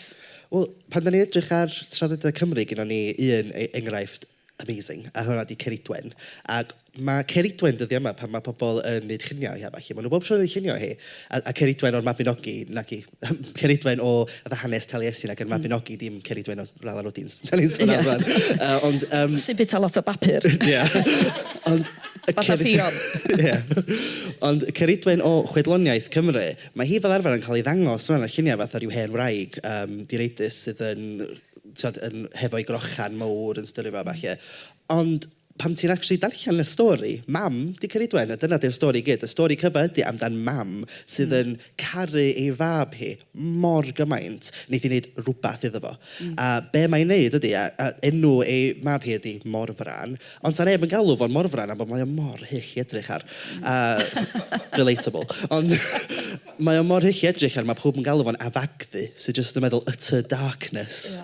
Wel, pan da ni'n edrych ar traddodiadau Cymru, gyda ni un e-, enghraifft amazing, a hwnna di Ceridwen. Ac Mae Ceridwen dyddiau yma pan mae pobl yn wneud lluniau o'i a ballu. Maen nhw bob tro yn wneud lluniau o hi. A, a Ceridwen o'r Mabinogi, naci, Ceridwen o fatha hanes Taliesin ac yn Mabinogi, dim Ceridwen o Rala Rwdins dan ni'n sôn am rŵan. Yy, ond, yym... Sy'n bwyta lot o bapur. Ie. Ond y Ceri-... Fatha Ffion. Ie. Ond y Ceridwen o chwedloniaeth Cymru, mae hi fel arfer yn cael ei ddangos rŵan ar lluniau fatha ryw hen wraig yym direidus sydd yn, tibod, yn... hefo'i grochan mawr yn styru fo a ballu. Ond... Pan ti'n actually darllen y stori, mam 'di Ceridwen a dyna 'di'r stori i gyd. Y stori cyfa ydi amdan mam sydd yn caru ei fab hi mor gymaint, neith hi wneud rwbath iddo fo. A be mae'n wneud ydi, a a enw ei mab hi ydi Morfran, ond 'sa neb yn galw fo'n Morfran am bod mae o mor hyll i edrych ar. A relatable. Ond mae o mor hyll i edrych ar, mae pawb yn galw fo'n Afagddu, sydd jyst yn meddwl utter darkness.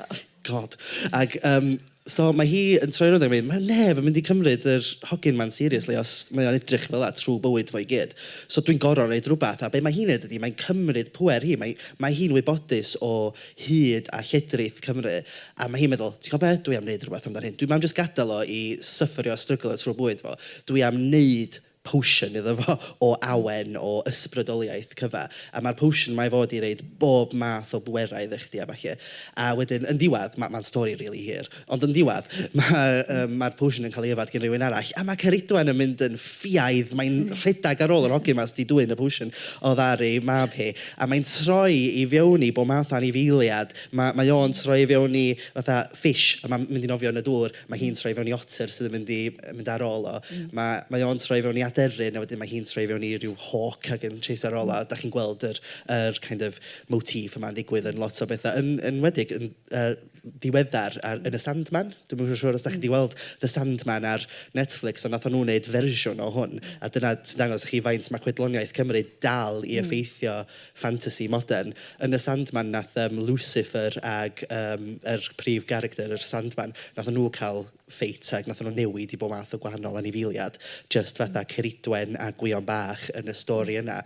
God. Ac yym so mae hi yn troi rownd ac yn mynd "ma' neb yn mynd i cymryd yr hogyn 'ma'n seriously os mae o'n edrych fel 'na trwy bywyd fo i gyd. So dwi'n gorfod wneud rywbeth." A be mae hi'n wneud ydy mae'n cymryd pŵer hi, mae mae hi'n wybodus o hyd a lledrith Cymru a mae hi'n meddwl "ti'n gwybod be, dwi am wneud rywbeth amdano hyn, dwi'm am jyst gadael o i syfyrio a stryglo trwy bywyd fo, dwi am wneud potion iddo fo o awen, o ysbrydoliaeth, cyfa. A mae'r potion 'ma i fod i roid bob math o bwerau iddo chdi a ballu. A wedyn, yn ddiwedd, ma- mae'n stori rili hir, ond yn ddiwedd, ma' yym mae'r potion yn cael ei yfed gan rywun arall, a mae Ceridwen yn mynd yn ffiaidd, mae'n rhedeg ar ôl yr hogyn 'ma sydd 'di dwyn y potion oddi ar ei mab hi, a mae'n troi i fewn i bob math o anifeiliad. Ma- mae o'n troi i fewn i fatha fish, a mae'n mynd i nofio yn y dŵr. Mae hi'n troi fewn i otter sydd yn mynd i mynd ar ôl o. Mae mae o'n troi fewn i aderyn a wedyn mae hi'n troi fewn i ryw hawk ac yn chasio ar ôl o. A dach chi'n gweld yr yr kind of motif yma'n digwydd yn lot o bethau, yn yn enwedig yn yy ddiweddar ar yn y Sandman. Dwi'm yn siŵr os dach chi 'di weld The Sandman ar Netflix ond wnaethon nhw wneud fersiwn o hwn a dyna sy'n dangos i chi faint mae chwedloniaeth Cymru dal i effeithio ffantasi modern. Yn y Sandman wnaeth yym Lucifer ac yym yr prif garacter yr Sandman, wnaethon nhw cael ffeit ac wnaethon nhw newid i bob math o gwahanol anifeiliad, jyst fatha Ceridwen a Gwion Bach yn y stori yna.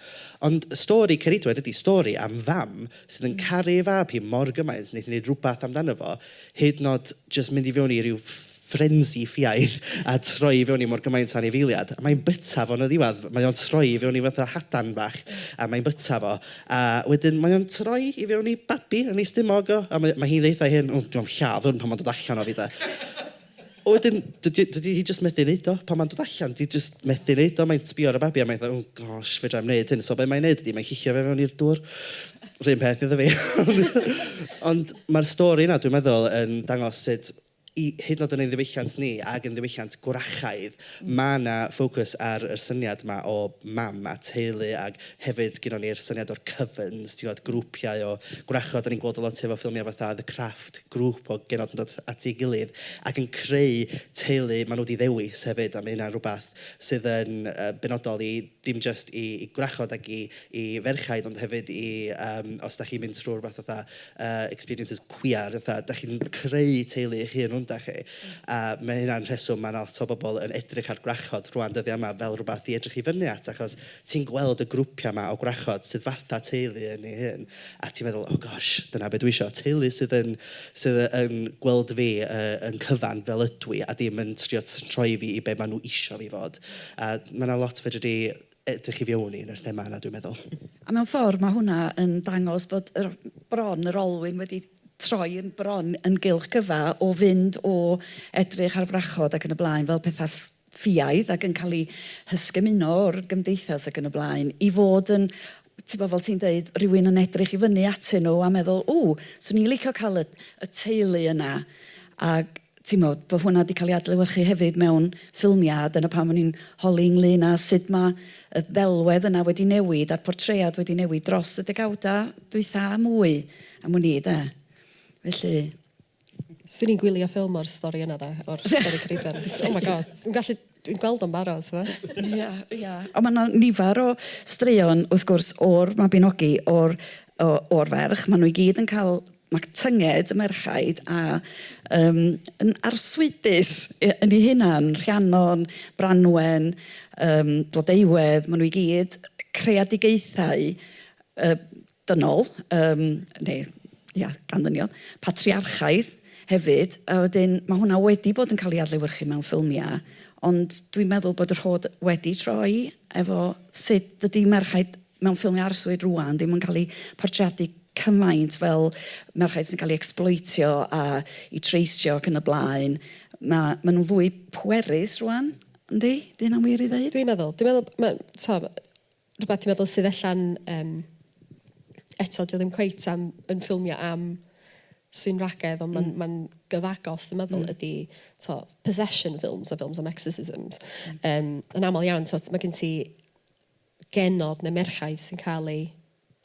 Ond stori Ceridwen ydy stori am fam sydd yn caru ei fab hi mor gymaint wneith hi wneud rhywbeth amdano fo hyd yn oed jyst mynd i fewn i ryw frenzy ffiaidd a troi i fewn i mor gymaint o anifeiliad. A mae'n byta fo'n y ddiwedd. Mae o'n troi i fewn i fatha hadan bach a mae'n byta fo. A wedyn mae o'n troi i fewn i babi yn ei stumog o. A mae mae hi'n dweutha ei hun, "o, dwi am lladd hwn pan mae'n dod allan o fi de". A wedyn, dydy dydy hi jyst methu wneud o. Pan mae'n dod allan, 'di jyst methu wneud o. Mae'n sbio ar y babi a mae'n fatha, oh gosh, fedra i'm wneud hyn. So be mae'n wneud ydy, mae'n cicio fe fewn i'r dŵr. Yr un peth iddo fi. Ond mae'r stori yna, dwi'n meddwl, yn dangos sut i... hyd yn oed yn ein ddiwylliant ni ac yn ddiwylliant gwrachaidd, mae 'na ffocws ar y syniad 'ma o mam a teulu ac Hefyd, gynnon ni'r syniad o'r cyfyns, ti'n gwybod, grwpiau o gwrachod. Dan ni'n gweld o lot efo ffilmiau fatha The Craft, grŵp o genod yn dod at ei gilydd ac yn creu teulu maen nhw 'di ddewis hefyd. A mae hynna'n rhywbeth sydd yn yy benodol i dim jyst i i gwrachod ac i i ferchaid, ond hefyd i yym os dach chi'n mynd trwy rywbeth fatha yy experiences cwiar, fatha dach chi'n creu teulu eich hun rŵan dach chi. A mae hynna'n rheswm mae 'na lot o bobl yn edrych ar gwrachod rŵan dyddiau yma fel rhywbeth i edrych i fyny at achos... Ti'n gweld y grwpiau 'ma o gwrachod sydd fatha teulu yn ei hun, a ti'n meddwl, oh gosh, dyna be dwi isio, teulu sydd yn sydd yn gweld fi yn cyfan fel ydw i a ddim yn trio troi fi i be maen nhw isio fi fod. A ma' 'na lot fedri di edrych i fewn i yn yr thema yna, dwi'n meddwl. A mewn ffordd mae hwnna yn dangos bod yr bron, yr olwyn wedi troi yn bron yn gylch cyfa o fynd o edrych ar wrachod ac yn y blaen fel petha ff-... ffiaidd ac yn cael eu hysgymuno o'r gymdeithas ac yn y blaen, i fod yn, ti'n gwybod, fel ti'n deud, rhywun yn edrych i fyny atyn nhw a meddwl, ww, 'swn i'n licio cael y y teulu yna. A ti'n gwybod, bod hwnna 'di cael ei adlewyrchu hefyd mewn ffilmiau, a dyna pam o'n i'n holi ynglyn â sut ma' y ddelwedd yna wedi newid a'r portread wedi newid dros y degawdau dwytha a mwy am wn i de. Felly... Swn i'n gwylio ffilm o'r stori yna 'da o'r stori Ceridwen. Oh my God. Swn i'n gallu dwi'n gweld o'n barod t'mo'. Ia ia. On' ma' 'na nifer o straeon wrth gwrs o'r Mabinogi o'r o o'r ferch ma' n'w i gyd yn ca'l ma' tynged y merchaid a yym yn arswydus yy yn 'u hunan Rhiannon, Branwen yym Blodeuwedd ma' n'w i gyd creadigaethau yy dynol, yym, neu, ia, gan ddynion, patriarchaidd hefyd, a wedyn ma' hwnna wedi bod yn cael ei adlewyrchu mewn ffilmiau, ond dwi'n meddwl bod y rhod wedi troi efo sut dydy merchaid mewn ffilmiau arswyd rŵan ddim yn cael eu portreadu cymaint fel merchaid sy'n cael eu ecsbloetio a'u treistio ac yn y blaen. Ma' ma' nhw'n fwy pwerus rŵan, yndi? 'Di hynna'n wir i ddeud? Dwi'n meddwl. Dwi'n meddwl ma' tibod rwbath ti'n meddwl sydd ella'n yym eto dwi ddim cweit am yn ffilmio am sy'n ragedd ond mae'n mm. ma gyfagos dwi'n meddwl mm. ydy to, possession films a films am exorcisms. Mm. Um, yn aml iawn to, mae gen ti genod neu merchaid sy'n cael ei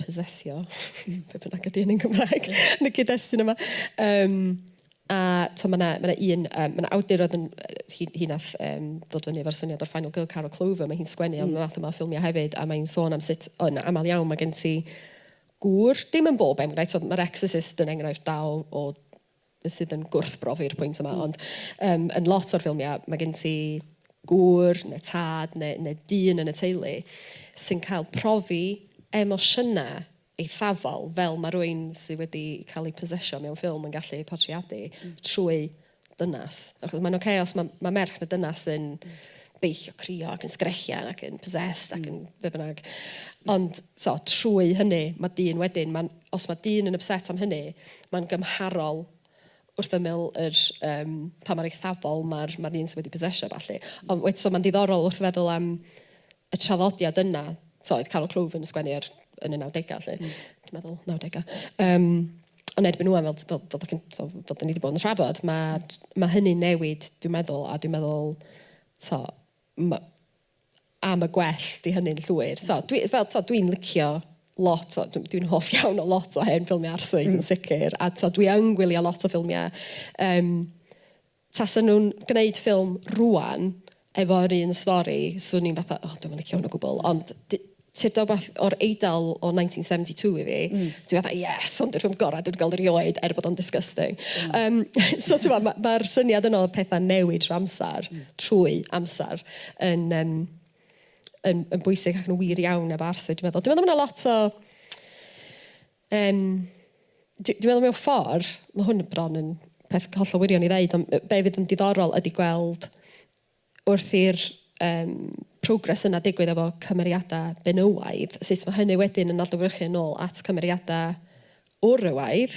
possessio, mm. be bynnag ydy yn Gymraeg, yn y cyd-destun yma. Um, A tibod, mae 'na, mae 'na un yym... mae 'na awdur oedd yn yy hi hi wnaeth yym ddod fyny efo'r syniad o'r final girl, Carol Clover, mae hi'n sgwennu am y math yma o ffilmiau hefyd a mae hi'n sôn am sut yn aml iawn mae gen ti gŵr, dim yn bob enghraifft, tibod mae'r Exorcist yn enghraifft da o o beth sydd yn gwrthbrofi'r pwynt yma ond yym yn lot o'r ffilmiau mae gen ti gŵr neu tad neu neu dyn yn y teulu sy'n cael profi emosiynau eithafol, fel mae rhywun sydd wedi cael ei possesio mewn ffilm yn gallu portreadu, trwy ddynas. Achos mae'n ocê os mae, mae merch neu dynas yn beichio, crio ac yn sgrechian ac yn possessed ac yn be bynnag. Ond so, trwy hynny, mae dyn wedyn, mae'n, os mae dyn yn upset am hynny, mae'n gymharol wrth ymyl yr yym pa mor eithafol ma'r ma'r un sy wedi possesio a ballu. Ond wed- so ma'n ddiddorol wrth feddwl am y traddodiad yna, t'mo' oedd Carol Clwfyn yn sgwennu ar yn y nawdegau 'lly... Mm. ...dwi'n meddwl, nawdegau? Yym ond erbyn ŵan fel t- fel fel dach chi'n t'mo' fel 'dan ni 'di bod yn trafod ma'r ma' hynny'n newid dwi'n meddwl a dwi'n meddwl t'mo' ma' am y gwell 'di hynny'n llwyr. So, dwi, fel, so, dwi'n licio lot o, dwi'n dwi hoff iawn o lot o hen ffilmiau arswyd yn sicr, a so, dwi yn gwylio lot o ffilmiau. Um, tasa nhw'n gwneud ffilm rwan efo'r un stori, swn i'n fatha, oh, dwi'n licio hwn o gwbl, ond Tybed wbath, o'r Eidal o 1972 i fi, dwi fatha 'yes, hwn 'di'r ffilm gorau dwi 'di gweld erioed', er bod o'n disgusting. Yym so tibod, ma' ma'r syniad yna o pethau'n newid trwy amser, trwy amser, yn yym yn yn bwysig ac yn wir iawn efo arswyd dwi'n meddwl. Dwi'n meddwl ma' 'na lot o yym dwi dwi'n meddwl mewn ffordd, ma' hwn bron yn peth hollol wirion i ddeud, ond be' fydd yn diddorol ydy gweld wrth i'r yym progress yna digwydd efo cymeriada benywaidd, sut ma' hynny wedyn yn adlewyrchu yn ôl at cymeriada wrywaidd,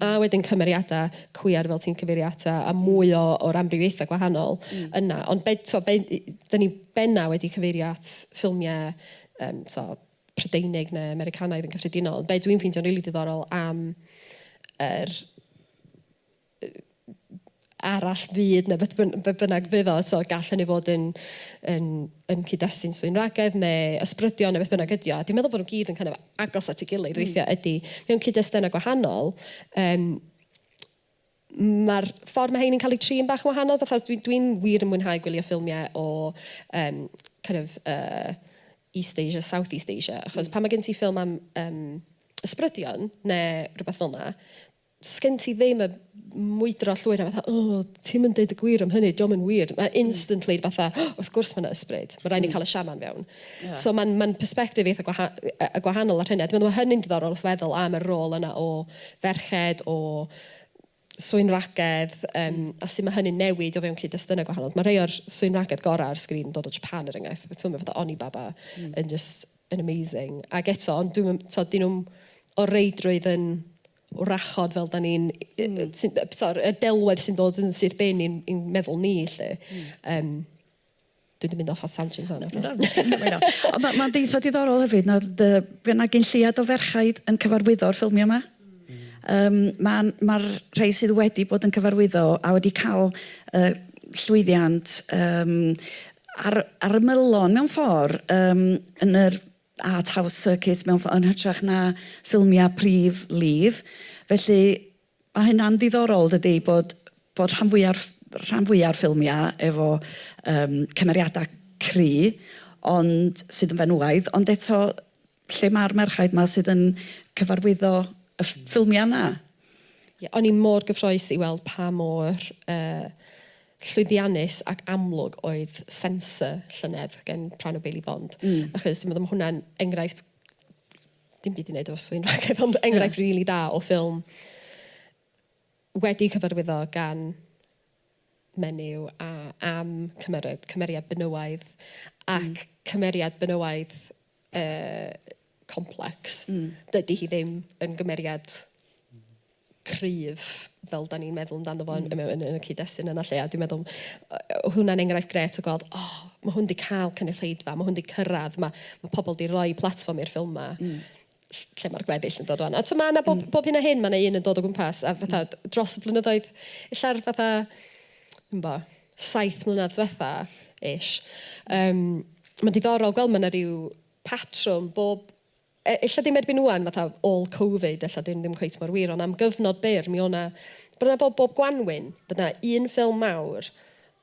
a wedyn cymeriada cwiar fel ti'n cyfeirio ata, a mwy o o'r amrywiaetha gwahanol yna. Ond be' t'o' be' i- 'dyn ni benna wedi cyfeirio at ffilmie yym t'o' Prydeinig ne' Americanaidd yn cyffredinol. Be' dwi'n ffeindio'n rili diddorol am yr arall fyd neu beth byn- be' bynnag fydd o, so gall hynny fod yn yn yn cyd-destun swynragedd neu ysbrydion neu beth bynnag ydy o, a dwi'n meddwl bod nhw gyd yn kind of agos at ei gilydd weithiau ydy, mewn cyd-destunau gwahanol, yym, mae'r ffordd mae rheini'n cael eu trin bach yn wahanol, fatha dwi dwi'n wir yn mwynhau gwylio ffilmiau o yym kind of uh, East Asia, South East Asia, achos pan mae gen ti ffilm am yym, ysbrydion neu rhywbeth fel 'na, sgen ti ddim y mwydro llwyr a fatha oh ti'm yn deud y gwir am hynny, dio'm yn wir. Mae instantly yn fatha oh wrth gwrs ma' 'na ysbryd, ma' raid ni cael y shaman fewn. Ie. So ma'n ma'n perspective eitha gwaha- yy yy gwahanol ar hynny a dwi meddwl ma' hynny'n diddorol wrth feddwl am y rôl yna o ferched, o swynwragedd yym a sut ma' hynny'n newid o fewn cyd-destunau gwahanol. Ma' rhei o'r swynwragedd gorau ar sgrin yn dod o Japan er enghraifft, beth yw'n fatha Onibaba yn jyst yn amazing ac eto ond dwi'm yn t'od 'dyn nhw'm o reidrwydd yn wrachod fel dan ni'n... sori, y delwedd sy'n dod yn syth bin i'n i'n meddwl ni 'lly. Yym. Dwi 'di mynd off ar tangent fan 'na. Na, dim yn bynna. Ond ma' ma'n deitha diddorol hefyd na o'dd yy by' 'na gyn lleiad o ferchaid yn cyfarwyddo'r ffilmia 'ma. Yym ma'n ma'r rhei sydd wedi bod yn cyfarwyddo a wedi ca'l yy llwyddiant yym ar ar ymylon mewn ffor yym yn yr Art House Circuit mewn ffordd, yn hytrach na ffilmiau prif lif. Felly, ma' hynna'n ddiddorol dydi, bod bod rhan fwya'r ff- rhan fwya'r ffilmiau efo yym cymeriadau cry, ond sydd yn fenywaidd, ond eto lle ma'r merchaid 'ma sydd yn cyfarwyddo y ff- ffilmiau 'na? Ie, o'n i mor gyffrous i weld pa mor yy llwyddiannus ac amlwg oedd sensor llynedd gen Pran o Bailey Bond. Mm. Achos dwi'n meddwl mae hwnna'n enghraifft dim byd i wneud efo swyn rhagedd, ond enghraifft yeah. really da o ffilm wedi cyfarwyddo gan menyw a am cymeriad, cymeriad benywaidd ac mm. cymeriad benywaidd yy complex. Hmm. Dydy hi ddim yn gymeriad cryf fel 'dan ni'n meddwl amdano fo yn hmm. yn yn y cyd-destun yna 'lly a dwi'n meddwl yy hwnna'n enghraifft gret o gweld oh, ma' hwn 'di cael cynulleidfa ma' hwn 'di cyrraedd, ma' ma' pobl 'di rhoi platfform i'r ffilm 'ma. Mm lle mae'r gweddill yn dod o'n. A t'o' ma' 'na bob mm. bob hyn a hyn ma' 'na un yn dod o gwmpas a fatha hmm. dros y blynyddoedd ella'r fatha yn bo, saith mlynedd dwetha, ish. Yym, ma'n diddorol gweld ma' 'na ryw patrwm bob, e- ella ddim erbyn ŵan fatha ôl Covid ella 'di hyn ddim cweit mor wir on' am gyfnod byr mi o' 'na, bron a bob bob Gwanwyn, bod 'na un ffilm mawr,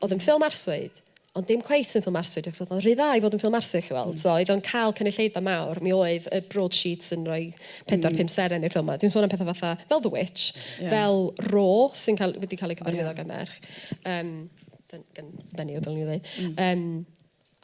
o'dd yn ffilm arswyd, ond dim cweit yn ffilm arswyd achos o'dd o'n rhy dda i fod yn ffilm arswyd chi weld, so oedd o'n ca'l cynulleidfa mawr, mi oedd y broadsheets yn roi pedwar pump seren i'r ffilm 'ma, dwi'n sôn am petha fatha fel The Witch... Ie. ...fel Raw sy'n ca'l wedi ca'l ei cyfarwyddo... O ie. ...gan ferch. Yym, dyn- gyn- menyw dylwn i ddweud. Mm. Yym,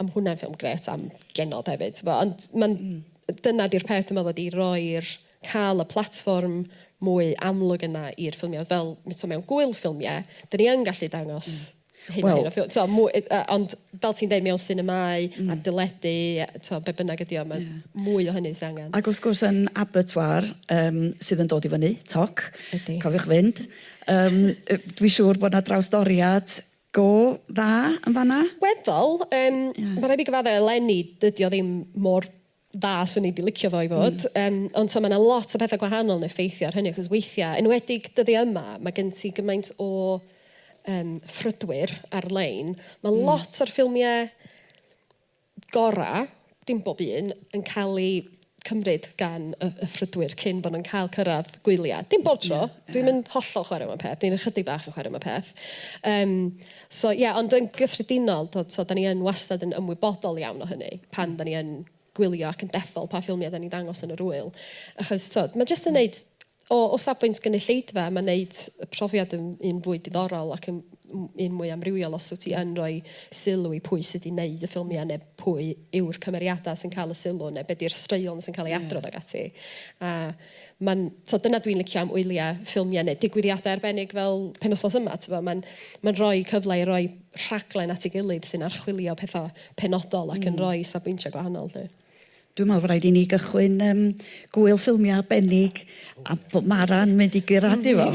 a ma' hwnna'n ffilm grêt am genod hefyd t'bo' ond ma'n... Mm. ...dyna 'di'r peth dwi meddwl ydi roi'r ca'l y platfform mwy amlwg yna i'r ffilmie o'dd fel m- t'o' mewn gŵyl ffilmie 'dyn ni yn gallu dangos... Mm. ...hyn a hyn o ffil- t'o' mwy yy yy ond fel ti'n deud mewn sinemâu... Mm. ...ar deledu a t'o' be' bynnag ydi o ma'... Ie. ...mwy o hynny sy angen. Ag wrth gwrs yn Abertoir yym sydd yn dod i fyny, toc. Ydi. Cofiwch fynd. Yym yy dwi siŵr bod 'na drawstoriad go dda yn fan'na. Weddol, yym... Ie. ...ma' raid fi gyfadde eleni dydi o ddim mor dda swn i 'di licio fo i fod. Hmm. Yym ond t'o' ma' 'na lot o pethe gwahanol yn effeithio ar hynny achos weithia', enwedig dyddia' yma, ma' gen ti gymaint o yym ffrydwyr ar-lein. Ma'... Hmm. ...lot o'r ffilmie gorau, dim bob un, yn cael eu cymryd gan y y ffrydwyr cyn bod nhw'n cael cyrraedd gwyliau. Dim bob tro. Ie, ie. Dwi'm yn hollol chwarae mewn peth, dwi'n ychydig bach yn chwarae mewn peth. Yym, so ie, ond yn gyffredinol, tibod, so 'dan ni yn wastad yn ymwybodol iawn o hynny pan 'dan ni yn gwylio ac yn dethol pa ffilmiau 'dan ni'n dangos yn yr ŵyl. Achos, tibod, ma' jyst yn wneud O o safbwynt gynulleidfa mae'n wneud y profiad yn un fwy diddorol ac yn un mwy amrywiol os wyt ti yn rhoi sylw i pwy sydd wedi wneud y ffilmiau neu pwy yw'r cymeriadau sy'n cael y sylw neu be di'r straeon sy'n cael ei adrodd ac ati. A mae'n, tibod, dyna dwi'n licio am wyliau ffilmiau neu digwyddiadau arbennig fel penwythnos yma, tibod, mae'n mae'n rhoi cyfle i roi rhaglen at ei gilydd sy'n archwilio pethau penodol ac yn rhoi safbwyntiau gwahanol 'lly. Dwi'n meddwl fod rhaid i ni gychwyn yym gŵyl ffilmiau arbennig a bod Mara'n mynd i guradu fo.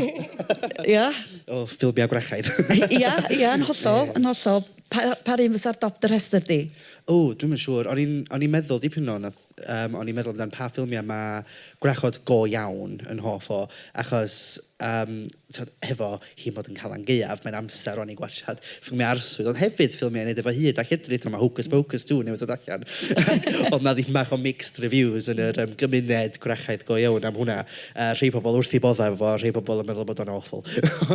Ia? O, ffilmiau gwrachaidd. Ia, ia, yn hollol, yn hollol. Pa, pa run fysa'r dop dy rhestr di? O, dwi'm yn siŵr. O'n i'n, o'n i'n meddwl dipyn yn ôl, nath, yym, o'n i'n meddwl amdan pa ffilmiau ma' gwrachod go iawn yn hoff o, achos, yym, tibod, hefo hi'n bod yn Calan Gaeaf, mae'n amser rwan i gwatsiad ffilmiau arswyd, ond hefyd ffilmiau i wneud efo hud a lledrith, tibod, mae Hocus Pocus two newydd dod allan. Oedd 'na dipyn bach o mixed reviews yn yr yym gymuned gwrachaidd go iawn am hwnna. Yy rhei pobl wrth eu boddau efo fo, rhei pobl yn meddwl bod o'n awful.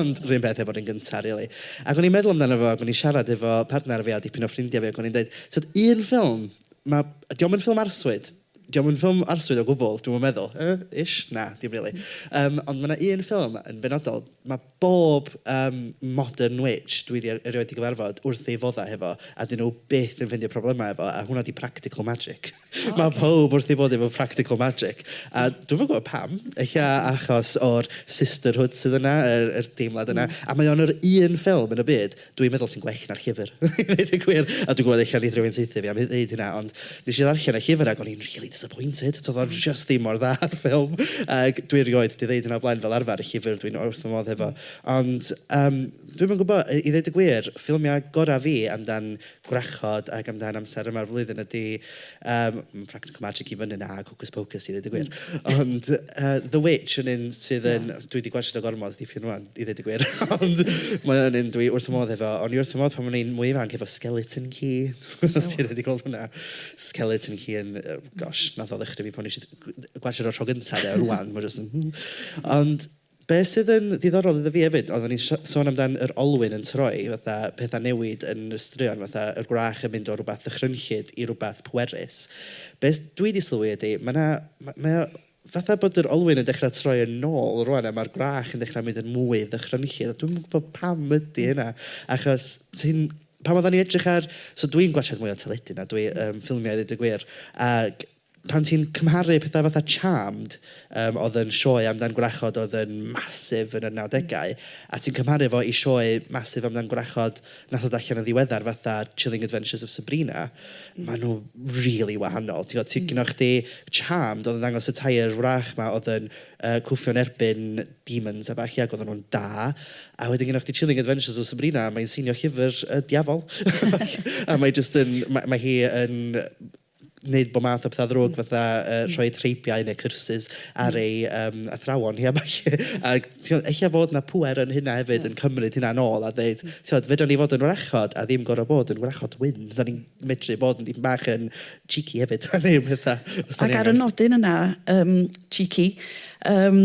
Ond 'run peth efo'r un gynta rili. Ac o'n i'n meddwl amdano fo ac o'n i'n siarad efo partner fi a dipyn o ffrindiau fi ac o'n i'n deud, tibod, un ffilm, ma'... 'di o'm yn ffilm arswyd, Dio'm yn ffilm arswyd o gwbl, dwi'm yn meddwl. Yy, ish? Na, dim rili. Yym, ond ma' 'na un ffilm yn benodol, ma' bob yym modern witch dwi 'di er- erioed 'di gyfarfod wrth ei foddau hefo, a 'dyn nhw byth yn ffeindio problemau efo, a hwnna 'di practical magic. O ocê. Ma' pawb wrth ei fodd efo practical magic, a dwi'm yn gwybod pam. Ella achos o'r sisterhood sydd yna, yr yr deimlad yna. A mae o'n yr un ffilm yn y byd, dwi'n meddwl sy'n gwell na'r llyfr i ddeud y gwir. A dwi'n gwybod ella wneith rhywun saethu fi am ddeud hynna, ond wnes i ddarllen y llyfr ac o'n i'n rili disappointed. Tibod, oedd o jyst ddim mor dda â'r ffilm. Ac dwi erioed 'di ddeud hynna o'r blaen, fel arfer, y llyfr dwi'n wrth fy modd hefo. Ond yym dwi'm yn gwybod, i ddeud y gwir, ffilmiau gorau fi amdan... gwrachod ac amdan amser yma'r flwyddyn ydy yym ma' practical magic i fyny 'na ac hocus pocus i ddeud y gwir. Ond yy The Witch yn un sydd yn... dwi 'di gwatsiad o gormod dipyn rŵan i ddeud y gwir ond mae o'n un dwi wrth fy modd efo. O'n i wrth fy modd pan o'n i'n mwy ifanc efo Skeleton Key os ti rioed 'di gweld hwnna. Skeleton Key yn yy gosh wnaeth o ddychryn fi pan o'n i isio gwatsiad o tro gynta de rŵan mae o jyst yn ond... Be sydd yn ddiddorol iddo fi efyd, oedden ni'n sôn amdan yr olwyn yn troi, fatha pethau newid yn y straeon, fatha yr gwrach yn mynd o rywbeth ddychrynllyd i rywbeth pwerus. Be dwi wedi sylwi ydy, mae 'na, mae o fatha bod yr olwyn yn dechrau troi yn ôl rŵan a mae'r gwrach yn dechrau mynd yn mwy ddychrynllyd a dwi'm yn gwybod pam ydy hynna achos ti'n, pan oedden ni'n edrych ar, so dwi'n gwatsiad mwy o teledu na dwi, ffilmiau i ddeud y gwir ac pan ti'n cymharu pethau fatha Charmed, yym, oedd yn sioe amdan gwrachod oedd yn massive yn y nawdegau, a ti'n cymharu fo i sioe massive amdan gwrachod wnaeth ddod allan yn ddiweddar fatha Chilling Adventures of Sabrina, maen nhw rili wahanol. Ti'n gwybod, ti... gynna chdi Charmed oedd yn dangos y tair wrach 'ma oedd yn yy cwffio'n erbyn demons a ballu ac oedden nhw'n da, a wedyn gynna chdi Chilling Adventures of Sabrina, mae'n seinio llyfr y diafol a mae jyst yn... mae mae hi yn... wneud bob math o pethau ddrwg fatha yy rhoi treibiau neu curses ar ei yym athrawon hi a ballu. A timod ella fod 'na pŵer yn hynna hefyd yn cymryd hynna nôl a ddeud timod fedrwn ni fod yn wrachod a ddim gorfod bod yn wrachod wyn. Dan ni'n medru bod yn dipyn bach yn cheeky hefyd a wneud pethau os dan ni angen. Ac ar y nodyn yna yym cheeky yym